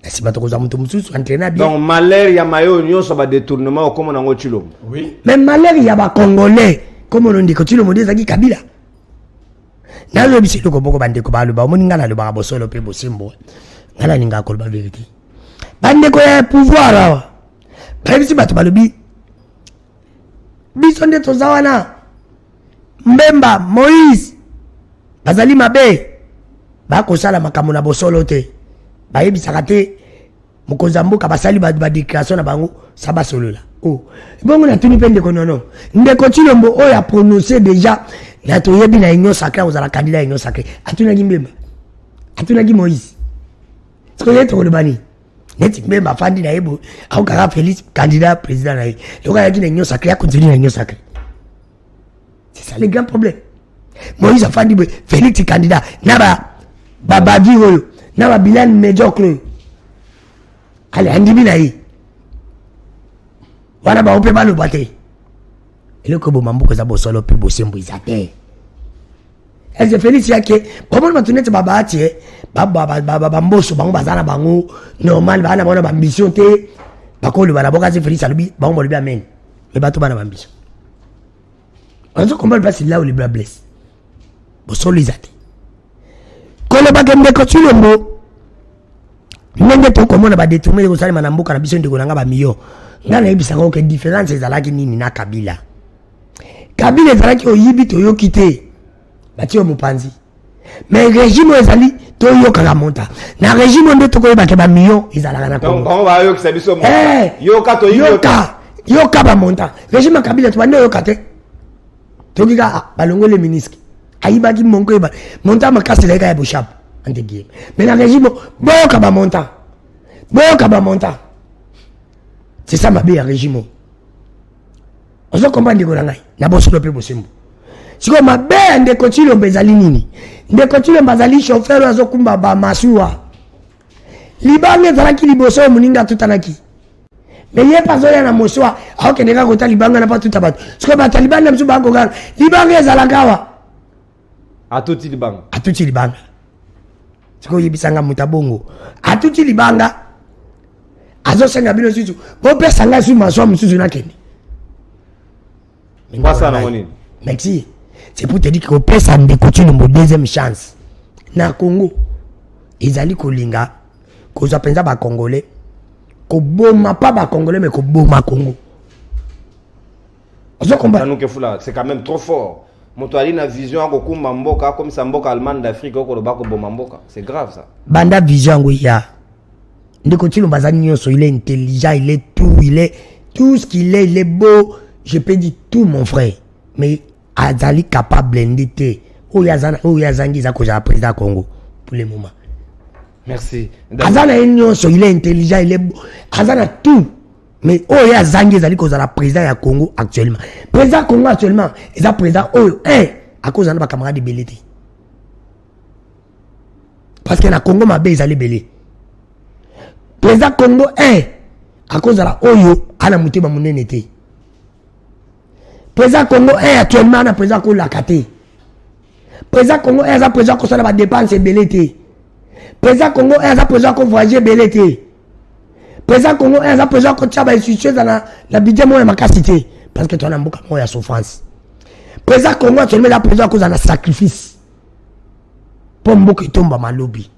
na nsima tokozwa moto mosusu entraine ya donc malheur ya maye oyo nyonso badetournement okoma nango cilombo oui. mais malheur ya bacongolais komono ndeko cilombo nde ezalaki kabila nayebisi eloko moko bandeko baloba omoni ngai nalobaka bosolo mpe bosembo ngai nalingaka koloba verité bandeko ya pouvoir awa bayebisi bato balobi biso nde toza wana mbemba moïse bazali mabe bakosala makambo na bosolo te bayebisaka te mokonzi ya mboka basali badéclaration na bango sa basolola o oh. bongo natuni mpe ndeko nono ndeko cilombo oyo aprononce déjà na toyebi na union sacré akozala kandida ya union sacré atunaki mbemba atunaki moïse sikoyo ye tokoloba nini neti meme afandi na ye boye akokaka félix candidat président na ye lokola ayaki na union sacré akontinue na union sacré c'est ça le grand problème moïse afandi boye félix candidat na ba babadi oyo na babilane médiocre oyo ale andimi na ye wana bango mpe baloba te eloko eboma mboka eza bosolo mpe bosembo eza te eze felix yake bamoni bato neti babahati e bamboso bango baza na bango normal baa na bango na bambition te bakoloba na boka eze felix alobi bango balobi amen me bato bana bambition ozo comprendre place là où les bras blessent bosolo eza te kolobaka ndeko tshilombo ndenge tokomona badetourne ekosalema na mboka na biso ndeko na ngai bamiyo ngai nayebisaka oke différence ezalaki nini na kabila kabila ezalaki oyibi toyoki te batie yo mopanzi mais régime oyo ezali toyokaka monta na régime oyo nde tokoyebake bamillion ezalaka na kongoyoka yoka bamonta régime ya kabila tobandi oyoka te toki kaka ah, balongoli miniski ayibaki monko yeba monta makasi elaki kaya boshap ante guillemets mais na régime boyoka bamonta boyoka bamonta c'est ça mabe ya régime oyo ozo comprendre ndeko na ngai na bosolo mpe bosembo sikoyo mabe ya ndeko cilombo ezali nini ndeko cilombo azali chauffeur oyo azokumba bamasuwa libanga ezalaki liboso oyo moninga atutanaki me ye mpe azoya na mosuwa aokende kaka kota libanga na mpe atuta bato sikoyo bato ya libanda mosusu bakokaka libanga ezalaka awa atuti libanga atuti libanga sikoyo oyebisa nga moto abongo atuti libanga azosenga bino susu bopesa ngai su maswa mosusu nakende merci c'est pour te dire kopesa ndeko cilombo deuxième chance na congo ezali kolinga kozwa mpenza bacongolais koboma pa bacongolais me koboma congo ozo comprendre nous que fula c'est quand même trop fort moto ali na vision ya kokumba mboka akomisa mboka allemagne d'afrique okoloba koboma mboka c'est grave ça banda vision yango ya ndeko tshilombo aza nyonso il est intelligent il est tout il est tout ce qu'il est il est beau je peux dire tout mon frère mais azali capable nde te oyo azangi eza kozala président ya congo pour le moment merci aza na ye nyonso il est intelligent il est beau aza na tout mais oyo ye azangi ezali kozala président ya congo actuellement président congo actuellement eza président oyo un eh, akozala na bacamarade ebele te parce que na congo mabe ezali ebele président congo un eh, akozala oyo ana motema monene te Président Congo est actuellement na président kolaka te. Président Congo est aza président kosala ba dépenses ebele te. Président Congo est aza président ko voyager ebele te. Président Congo est aza président ko tia ba institutions na na budget moya makasi te parce que tona mboka moya souffrance. Président Congo actuellement la président koza na sacrifice. Pour mboka etomba malobi.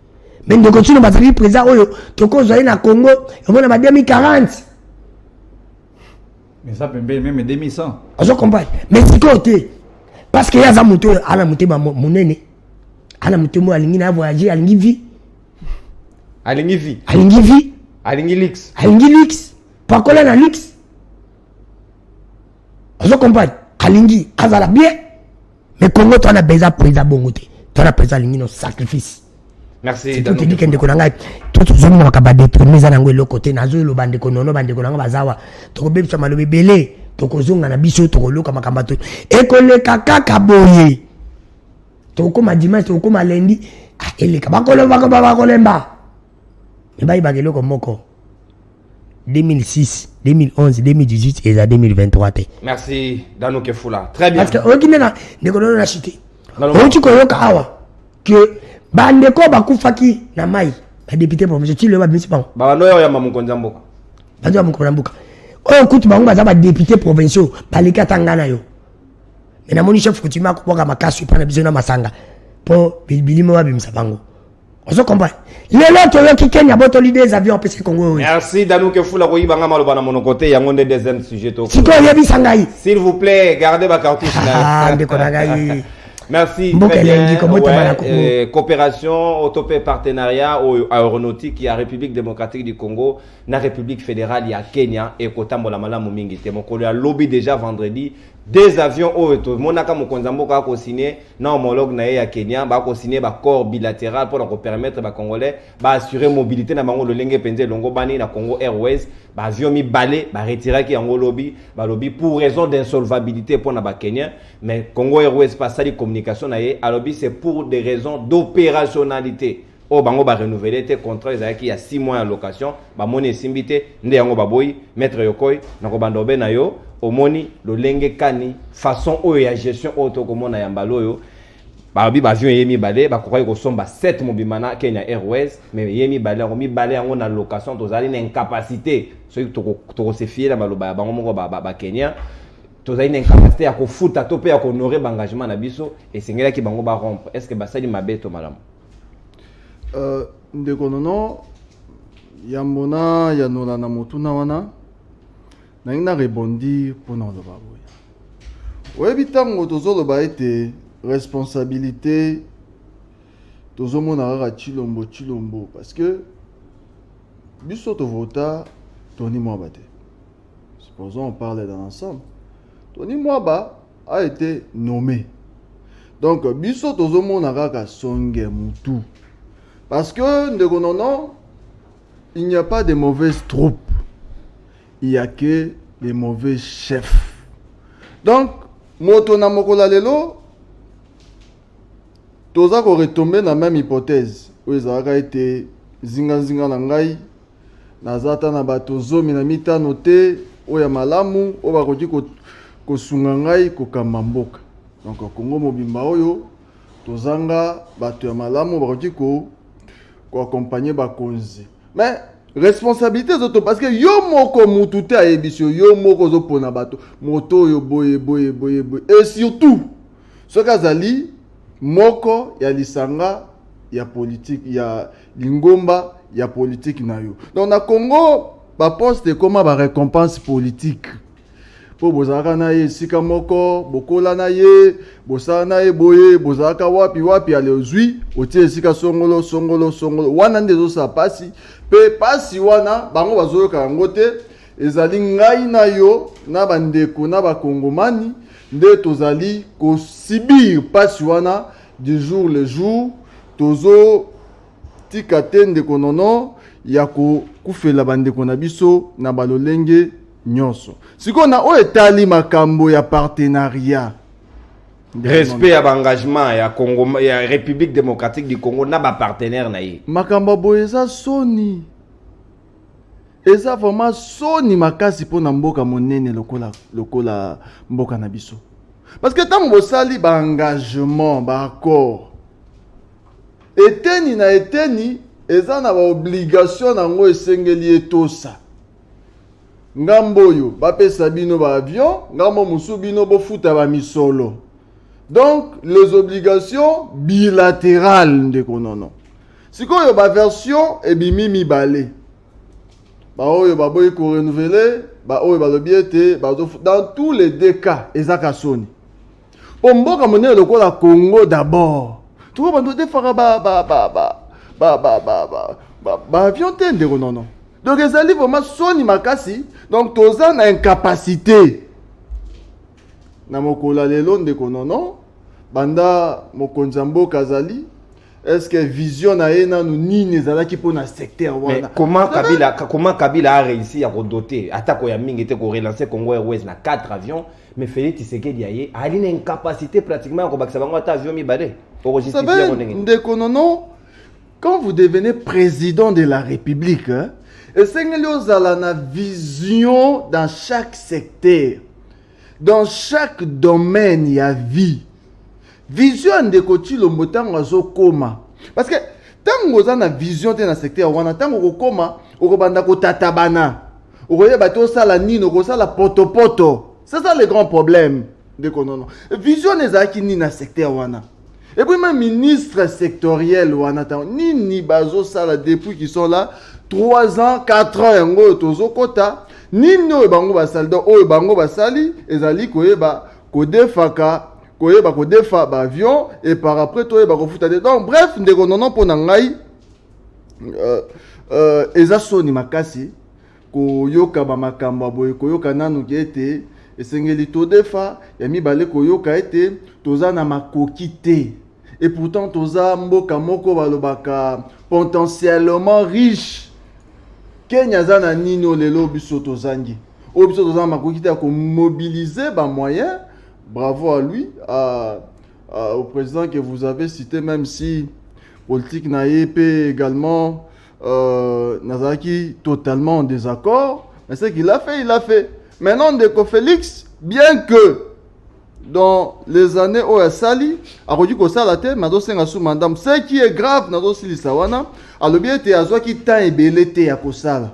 Mais ndeko tino bazali président oyo tokozwa ye na Congo omona ba 2040. Mais ça pembeni meme 2100. Ozo comprendre? Mais sikoyo te. Parce que ye aza moto oyo ana motema monene. Ana motema oyo alingi na voyager, alingi vie. Alingi vie. Alingi vie. Alingi luxe. Alingi luxe. Pakola na luxe. Ozo comprendre? Alingi azala bien. Mais Congo toi na beza preza bongo te. Toi na preza lingino sacrifice. Merci. C'est tout dit que ndeko na ngai tout zo mona makaba de premier za nango eloko te nazo eloba ndeko nono ba ndeko na ngai bazawa. Toko bebisa malobe belé. Toko zonga na biso toko loka makamba to. Ekoleka kaka boye. Toko ma dimanche toko ma lundi. Ah eleka bakolo bakolo bakolemba. bayebaka eloko moko 2006 2011 2018 eza 2023 te merci dano kefula très bien parce que oyoki nde na ndeko lolo na chute outi koyoka awa ke bandeko oyo bakufaki na mai badepute proviso ti loyo babimisi bango babanda oyo oyamba mokonzi ya mboka bazo ya mokonzi ya mboka oyo kutu bango baza badepute provinciaux baleki ata ngai na yo me namoni chef coutume akobwaka makasi epai na biso na masanga mpo bilimo babimisa bango ozo comprendre lelo toyoki kenya botoli des avions apesi kongo oyo merci danuke fula koyiba nga maloba na monoko te yango nde deuxième sujet to sikoyo oyebisa ngai s'il vous plaît gardez bacartouche na ah, ndeko na ngai merci mboka elengi kobotama na kongo euh, coopération oto mpe partenariat oyo aéronautique ya république démocratique du congo na république fédérale ya kenya ekotambola malamu mingi te mokolo ya lobi déjà vendredi des avions oyo tomonaka mokonzi ya mboka akosigne na homologue na ye ya Kenya ba ko signer ba corps bilateral pour ko permettre ba congolais ba assurer mobilité na bango lolenge penze longo bani na Congo Airways ba avion mi balé ba retirer ki yango lobi ba lobi pour raison d'insolvabilité pour na ba Kenyans mais Congo Airways pas sali communication na ye alobi c'est pour des raisons d'opérationnalité oyo bango ba renouveler te contrat ezalaki ya 6 mois ya location bamoni esimbi te nde yango baboyi maître yokoi na kobanda obe na yo omoni lolenge kani façon oyo ya gestion oyo tokomona ya mbala oyo babi bavio ye mibale bakokaki kosomba 7 mobimba na kenya airways mais ye mibale yango mibale yango na location tozali na incapacité soki tokosefie na maloba ya bango moko bakenya ba, ba tozali na incapacité ya kofuta to mpe ya kohonore baengagement na biso esengelaki bango barompre est ce que basali mabe to malamu Euh, ndeko nono yambo na yanola na motuna wana nalingi na rebondir mpo na oloba boye oyebi ntango tozoloba ete responsabilité tozomona kaka chilombo chilombo parce que biso tovota toni mwaba te supposons on parle dans l'ensemble toni mwaba a été nommé donc biso tozomona kaka songe mutu parce que ndeko nono il n'y a pas de mauvaises troupes il y a que des mauvais chefs donc moto na mokola lelo toza koretombe na même hypothèse oyo ezalaka ete zingazinga na ngai Naza ata na bato zomi na mitano te oyo ya malamu oyo bakoki kosunga ngai kokamba mboka. Donc Kongo mobimba oyo tozanga bato ya malamu bakoki ko koakompagne bakonzi mais responsabilité ezoto parce que yo moko mutu te ayebisi yo yo moko ozopona bato moto oyo boye boye boye boye et surtout soki azali moko ya lisanga ya politiki ya lingomba ya politiki na yo donc na congo baposte ekoma barécompense politike mpo bozalaka na ye esika moko bokola na ye bosala na ye boye bozalaka wapi wapi ale ozwi otie esika songolo songolo songolo wana nde ezosala mpasi mpe mpasi wana bango bazoyoka yango te ezali ngai na yo na bandeko na bakongomani nde tozali kosibir mpasi wana du jour le jour tozo tika te ndeko nono ya kokufela bandeko na biso na balolenge nyonso sikoyo na oyo etali makambo ya partenariat respect ya baengagement ya congo ya république démocratique du congo na bapartenaire na ye makambo boye eza soni eza vraiment soni makasi mpo na mboka monene lokola, lokola mboka na biso parce que ntango bosali baengagement baaccord eteni na eteni eza na baobligation na yango esengeli etosa ngambo oyo bapesa bino baavion ngambo mosusu bino bofuta bamisolo donc les obligations bilatérales ndeko nono sikoyo baversion ebimi mibale baoyo baboyi korenouvele baoyo balobi ete bazo dans tous les deux cas eza ka soni mpo mboka monene lokola congo d'abord toko bando defaka baavion te ndeko nono donc ezali vraiment soni makasi donc toza na incapacité na mokolo ya lelo ndeko nono banda mokonzi ya mboka azali est-ce que vision na ye nanu nini ezalaki mpo na secteur Mais wana comment Kabila, comment Kabila a réussi à redoter atako ya mingi te ko relancer Congo Airways na 4 avions mais Félix Tshisekedi aye ali na incapacité pratiquement ya kobakisa bango ata avion mibale Ça okojustifie yango fait, ndenge nini? ndeko nono Quand vous devenez président de la République, hein, esengeli ozala na vision dans chaque secteur, dans chaque domaine ya vie. Vision ya ndeko Tshilombo ntango azokoma parce que ntango oza na vision te na secteur wana ntango okokoma okobanda kotatabana okoyeba te osala nini okosala potopoto c'est ça le grand problème ndeko nono vision ezalaki nini na secteur wana Et puis même ministre sectoriel wana tango nini bazosala depuis qu'ils sont là 3 ans 4 ans yango oyo tozokota nini oyo bango basali donc oyo bango basali ezali koyeba kodefaka koyeba kodefa baavion et par après toyeba kofuta te donc bref ndeko nono mpo na ngai euh, euh, eza soni makasi Koyoka ba makambo ya boye, koyoka nanu ke ete esengeli todefa, ya mibale koyoka ete toza na makoki te et pourtant toza mboka moko balobaka potentiellement riche. Kenya aza na nini oyo lelo biso tozangi? Oyo biso toza na makoki te ya komobiliser ba moyens. Bravo à lui, à, à, au président que vous avez cité, même si politique na ye mpe également euh, nazalaki totalement en désaccord mais ce qu'il a fait il a fait maintenant ndeko félix bien que dans les années oyo asali akoki kosala te mais azosenga su mandamu ce qui est grave nazosilisa wana alobi ete azwaki temps ebele te ya kosala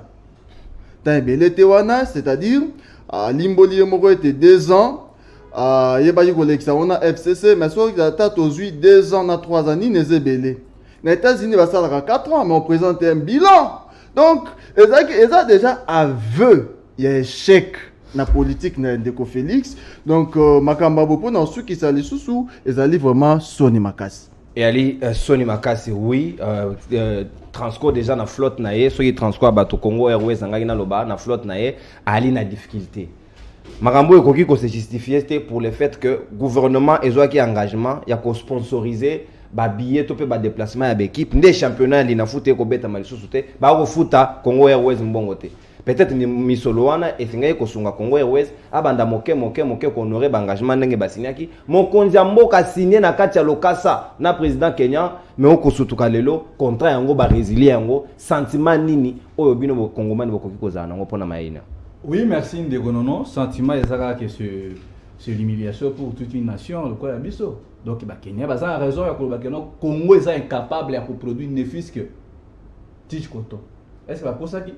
temps ebele te wana c'est-à-dire alimboli ye moko ete deux ans ayebaki kolekisa wana fcc mais soki ata tozwi deux ans na trois ans nini eza ebele na États-Unis basalaka 4 ans mais on présente un bilan donc ezalaki eza déjà aveu ya échec na politique na ndeko Félix donc euh, makambo abo mpo na osukisa lisusu ezali vraiment soni makasi eyali uh, soni makasi oui uh, uh, transco déjà na flotte na ye soki transco ya bato congo airways angaki naloba na flotte na ye ali na difficulté makambo oyo ekoki kose justifie te pour le fait que gouvernement ezwaki engagement ya kosponsorize babillet to mpe badeplacement ya baekipe nde championnat ya linafuta ekobetama lisusu te bakofuta congo airways mbongo te peut-être misolo wana esengaki kosunga congo airways abanda moke moke moke kohonore baengagement ndenge basinyaki mokonzi ya mboka signe na kati ya lokasa na président kenyan me okosutuka lelo contrat yango baresilien yango Sentiment nini oyo bino bo congomani bokoki kozala nango pona Maina? Oui, merci ndeko nono. Sentiment eza kaka que ce c'est l'humiliation pour toute une nation lokola ya biso. Donc ba Kenya baza na raison ya koloba que non Congo eza incapable ya ko produire ne fût-ce que tige coton. Est-ce que bakosaki?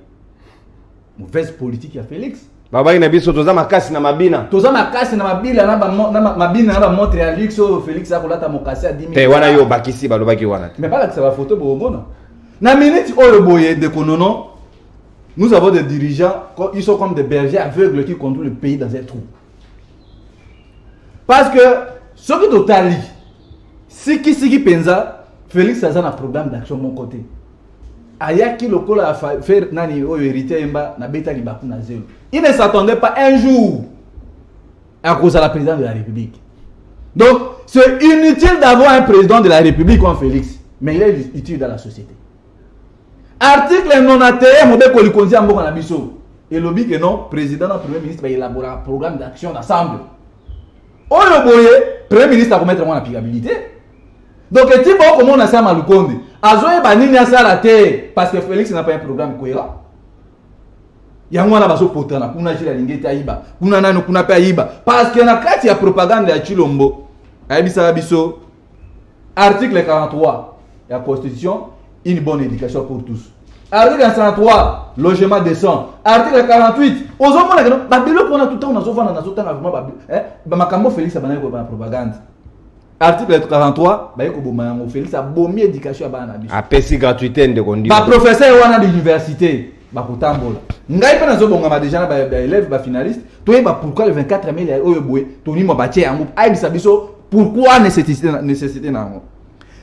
mauvaise politique ya Felix babaki na biso toza makasi na mabina toza makasi na mabila na bamo- na ma- mabina na bamontre ya luxe oyo felix akolata mokasi ya 10 te wana yo obakisi balobaki wana te mais balakisa bafoto bokomona na minute oyo boye ndeko nono nous avons des dirigeants co- ils sont comme des bergers aveugles qui conduit le pays dans un trou parce que soki totali sikisiki mpenza felix aza na programme d'action moko te ayaki lokola ya fa- fer nani oyo héritier ayemba nabeta libaku na zelo il ne s'attendait pas un jour akozala président de la république donc c'est inutile d'avoir un président de la république comme félix mais il est utile dans la société article 91 mobeko likonzi ya mboka na biso elobi ke non président na premier ministre baelaboraka programme d'action d'assemble oyo boye premier ministre akometre mwana pigabilité donc etimba okomona sama lukonde azoyeba nini asala te parce que félix n'a pas un programme cohérent yango wana bazopotana kuna jile alingi ete ayiba kuna nani kuna mpe ayiba parce que na kati ya propagande ya chilombo ayebisaka biso article 43 ya constitution une bonne éducation pour tous article 43 logement décent article 48 ozomona keno babiloko wana tutango nazovanda nazotanga vraimen eh, makambo félix abandaki koyeba na propagande article 43 baye koboma yango félix abomi éducation ya bana na biso apesi gratuité ndeko ndi baprofesseur wana d'université bakotambola ngai mpe nazobongama deja na baélève bafinaliste toyeba pourquoi le 24 mai oyo boye tonima batie yango ayebisa biso pourquoi nécessité na yango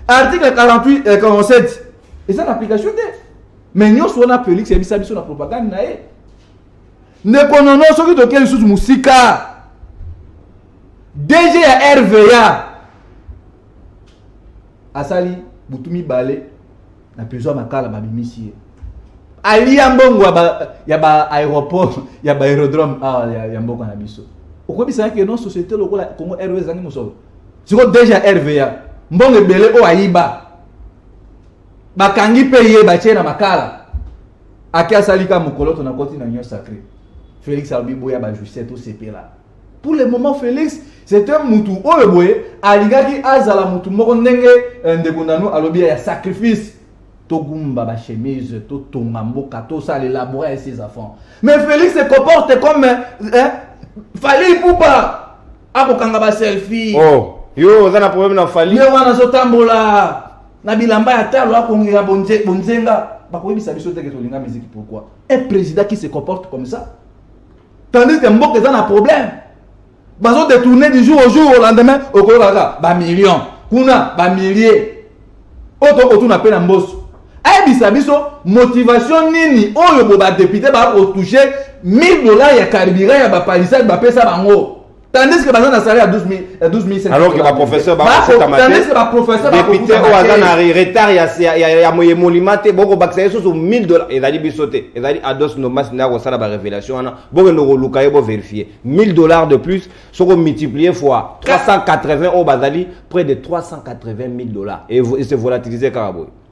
article 48 et 47 eza na application te mais nyonso wana félix ayebisa biso na propagande na ye ndeko nono soki toke lisusu mosika dg ya rva asali butu mibale na prison ya makala babimisi ye alia mbongo ya baaéroport ya baaérodrome awa ah, ya mboka na biso okoyebisaka ke non société lokola congo rva ezangi mosolo sikoyo dg ya rva mbongo ebele oyo ayiba bakangi mpe ye batye na makala Ake asali ka mokoloto na koti na Union Sacrée. Felix alobi boya ba jouisseur to sepela. Pour le moment Felix c'est un mutu oyo boye alingaki azala mutu moko ndenge euh, ndeko nanu alobi ya sacrifice togumba ba chemise totonga mboka tosala elabora ya ses enfants mais Felix se comporte comme hein, Fally Ipupa akokanga ba selfie oh yo oza na problème na Fally ye wana azotambola na bilamba ya talo akongela bonze bonzenga bakoyebisa biso te ke tolinga musique pourquoi un président qui se comporte comme ça tandis que mboka eza na problème bazo détourner du jour au jour au lendemain okoyoka kaka ba million kuna ba millier oyo tokotuna mpe na mboso ayebisa biso motivation nini oyo bo badepute bakotouche 1000 dollars ya carburant ya bapalisade bapesa bango tandis que baza na salaire ya 12 alors que baprofesseur bakotandis que baprofesseur député oyo aza na retard ya moye molima te bokobakisa ye susu 1000 dollar ezali biso te ezali ados nomas nde akosala barévélation wana bokende koluka ye boverifie 1000 dollar de plus soko multiplier fois 380 oyo bazali près de 380 000 dollar et se volatiliser kaka boye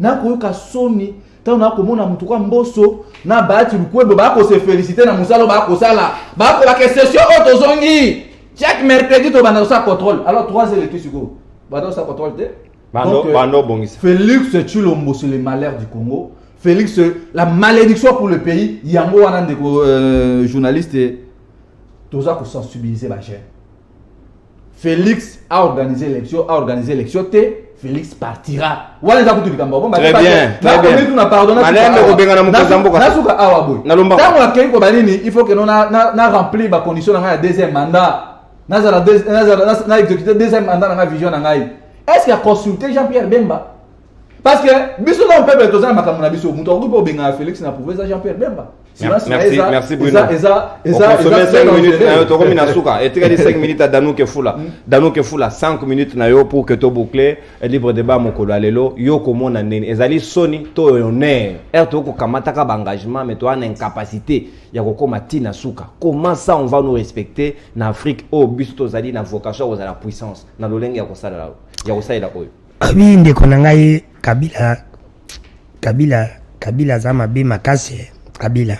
nakoyoka soni ntango nakomona motu kwa mboso na baati lukwebo bakose felicite na mosala bakosala bakolaka session oyo tozongi chaque mercredi tobanda kosala contrôle alors 3 heures etu sikoyo banda kosala contrôle te euh, félix chilombo c'est le malheur du congo félix euh, la malédiction pour le pays yango wana ndeko euh, journaliste toza kosensibiliser bajeune Felix a organisé l'élection, a organisé l'élection te Felix partira. Wana eza kutu likambo bon très bien. Très bien. Nakomi tuna pardon na malende kobengana mokonzi mboka. Na suka awa boye. Na lomba. Tango akei ko banini il faut que non na na, na remplir ba conditions na ngai ya deuxième mandat. Nazala deuxième nazala na exécuter deuxième mandat na ngai vision na ngai. Est-ce qu'il a consulté Jean-Pierre Bemba? parce que biso na peuple toza na makambo na biso moto akoki mpe obengana felix na pouvoir eza jean pierre bemba tokomi na suka etikali 5 minutes ya danuke fula hmm. danuke fula 5 minutes na yo pour que to boucle libre débat mokolo ya lelo yo komona nini ezali soni to honneur ere tokoki kokamataka baengagement mais toza na incapacité ya kokoma ti na suka comment ça on va nous respecter na afrique oyo biso tozali na vocation ya kozala puissance na lolenge ya kosalela oyo Abi ndeko na ngai Kabila Kabila Kabila aza mabe makasi eh. Kabila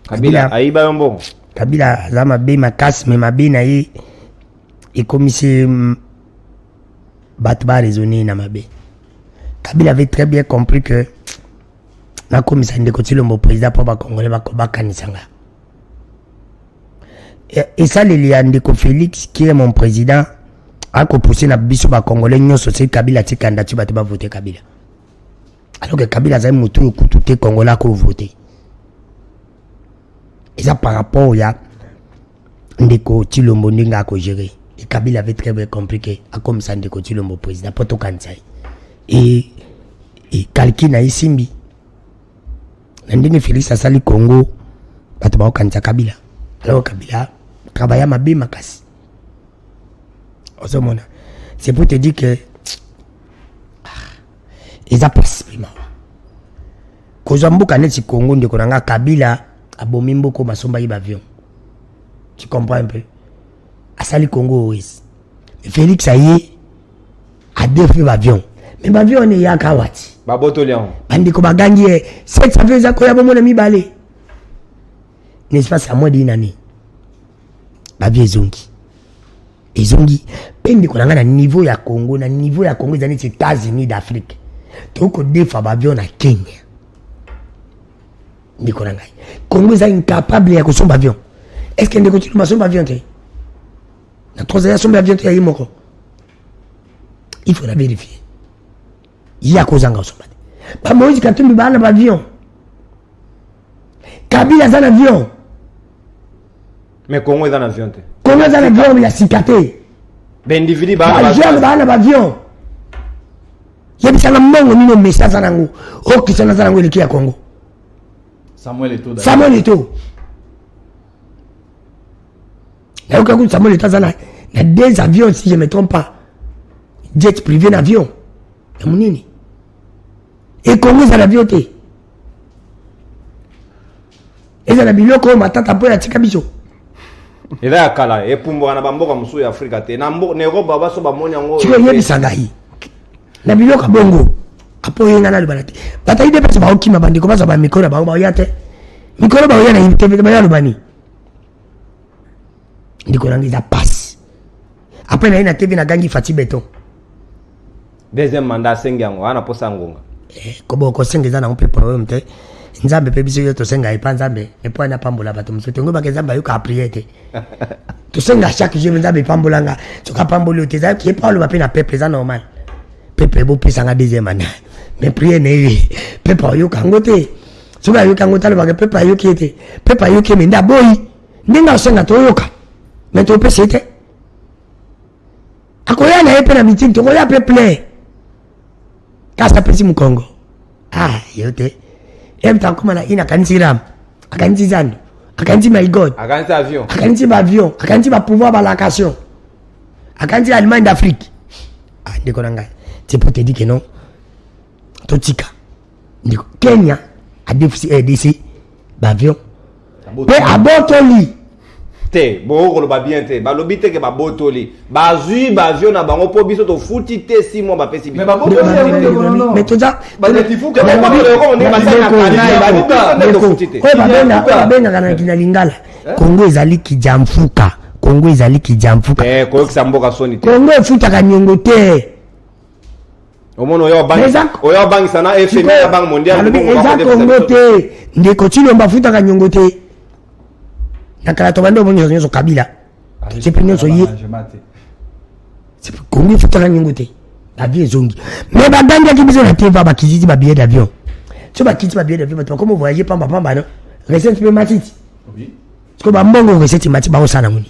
Kabila ayiba yo mbongo Kabila aza mabe makasi me mabe na ye ekomisi mm, bato ba raisonne na mabe Kabila avait très bien compris que nakomisa ndeko Tshilombo président mpo bakongole bakanisa ngai esaleli ya ndeko félix qui est mon président akopousse na biso bacongolais nyonso soki kabila ati kandidati bato bavote kabila alors que kabila azali motu oyo kutu te congolais akovote eza par rapport ya ndeko tilombo ndenge akogere e kabila avait très bien compris ke akomisa ndeko tilombo président mpo tokanisa ye e, e kalki na ye simbi na ndenge Felix asali Congo bato bakokanisa Kabila alors Kabila travailla mabe makasi ozomona c'est pour te dire que ah, eza pasi mpe mawa kozwa mboka neti Congo ndeko na nga Kabila abomi mboko masomba ye bavion tu comprends un peu asali Congo oise Felix aye adefi bavion me bavion wana eyaka wati babotoli yango bandeko bagangi ye set savio eza koya bomona mibale na espace ya mwa dinane bavio ezongi ezongi mpe ndeko na ngai na niveau ya congo na niveau ya congo eza neti états-unis d'afrique tokoki kodefa bavio na kenya ndeko na ngai congo eza incapable ya kosomba avion est ce que ndeko tiluma asomba avion te na trosa ya somba ya biento ya ye moko il faut na vérifier ye akozanga osomba te bamoïse katumbi baa na baavion kabila aza na avion mais congo eza na avion te congo eza na avion ya sika te baindividu bajeune baa na baavion yebisanga mbongo nini omesi aza nango okisana aza nango eleki ya congo samuel eto nayoka kutu samuel etoaza na na deux avions si je me trompe pas jet privé na avion ya monene ekongo eza na avion te eza na biloko oyo matata mpo yatika biso eza ya kala epumbwaka na bamboka mosusu ya afrika te na eropa baso bamoni yango siko eyebisa ngai na biloko ya bongo apo oye ngai nalobana te batali nde mpasi baokima bandeko bazwa bamikolo na bango baoya te mikolo baoya na ye te bayalobani ndeko nanga eza pasi apres naye na tv nagangi fati beton deuxième mandat asengi yango wana posa ngonga eh, kobo kosenga eza nango mpe problème te nzambe mpe biso yo tosenga epa nzambe epo ani apambola bato mosusu te ngobaka nzambe ayoka aprie te tosenga chaque jour nzambe epambola nga soki apamboli yo te eza ye mpe aloba mpe na peuple eza normal peuple bopesa nga deuxième année mais priere na ye peuple ayoka yango te soki ayoki yango talobaka pepe ayoki ye te pepe ayoki ye me nde aboyi ndenge asenga toyoka me topesa ye te akoya na ye mpe na mitini tokoya mpe plein kasi apesi mokongo ah yo te ye moto akoma na ina akanisi rame akanisi zando akanisi my god akanisi avion akanisi baavion akanisi bapouvoir balacation akanisi allemagne d'afrique ah ndeko na ngai c'est pour te dire que non totika ndeko kenya adefisi rdc eh, baavion mpe abotoli te bokoki koloba bien te balobi te ke babotoli bazwi bavio na bango mpo biso tofuti te si mwa bapesi bisobabengaka na lingala eh? kongo ezali kijamfuka kongo ezali kijamfuka eh, koyokisa mboka soni te kongo efutaka niongo te omona oyo abangisa na fmi ya banque mondialealobi eza kongo te ndeko cilombo afutaka nyongo te na kala tobandi omoni nyonso nyonso kabila totie mpe nyonso ye kongo efutaka nyongo te babi ezongi mais bagangaki biso na teva bakititi babillet d'avion so bakiti babillet d'avion bato bakoma voyage pamba pamba no recette mpe matiti siko bambongo recette mati baosala moni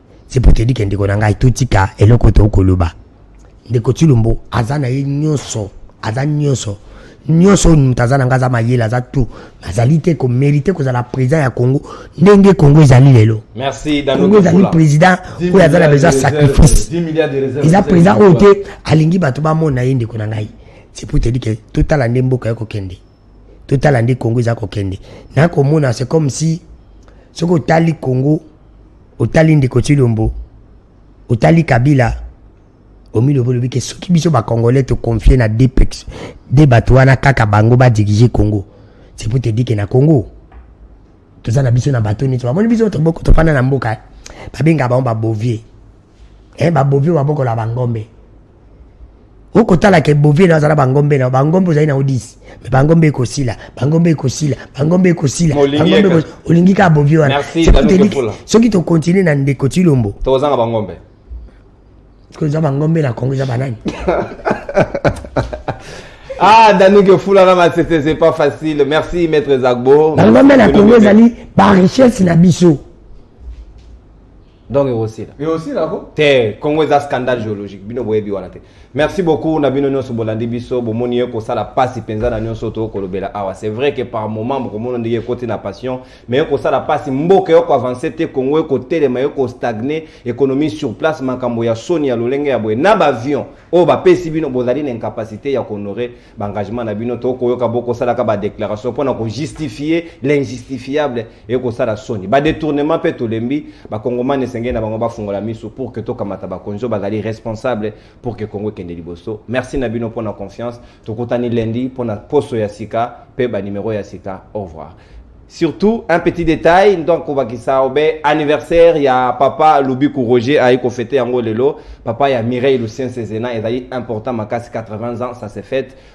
c'est pour te dire que ndeko na ngai totika eloko to koloba ndeko Tshilombo aza na ye nyonso aza nyonso nyonso oyo moto aza na ngai aza mayele aza tout azali te komerite kozala président ya congo ndenge congo ezali lelo congo ezali président oyo aza na besoin sacrifice eza président oyo te alingi bato bamona ye ndeko na ngai c'est pour te dire que totala nde mboka ye kokende totala nde congo eza kokende na komona c'est comme si soki otali congo otali ndeko tshilombo otali kabila omilobi olobi ke soki biso bacongolais toconfie na dpex de bato wana kaka bango badirige congo c'est pour te dire ke na congo toza na biso na bato nyonso bamoni biso toboko tofanda na mboka babenga bango babovie eh, babovie babokola bangombe okotala ke bovie na azala bangombe na bangombe ozali na odisi me bangombe ekosila bangombe ekosila bangombe ekosila olingi kaka bovie wana soki tokontinue na ndeko tilombo tozanga bangombe soki eza bangombe na kongo eza banani Ah, Dani Gefoulana Matsete, c'est pas facile. Merci, Maître Zagbo. Dans le domaine, la Congo, la richesse, la biseau. donc ekosila ekosila ko te congo eza scandale géologique bino boyebi wana te merci beaucoup na bino nyonso bolandi biso bomoni ye kosala mpasi mpenza na nyonso toyo kolobela awa c'est vrai que par moment bokomona ndenge ekoti na passion mais ekosala mpasi mboka yoko avance te congo ekotelema yoko stagne économie sur place makambo ya soni ya lolenge ya boye na baavion oyo bapesi bino bozali na incapacité ya kohonore baengagement na bino tokoyoka bokosalaka badéclaration mpo na kojustifie l'injustifiable ekosala soni badetournement mpe tolembi bakongomani esengeli na bango bafungola miso pour que tokamata bakonzi oyo bazali responsable pour que congo ekende liboso merci na bino mpo na confiance tokutani lundi mpo na poso ya sika mpe banimero ya sika au revoir surtout un petit détail donc kobakisa obe anniversaire ya papa lubiku roger ayi kofete yango lelo papa ya mireille lucien sezena ezali important makasi 80 ans ça se fête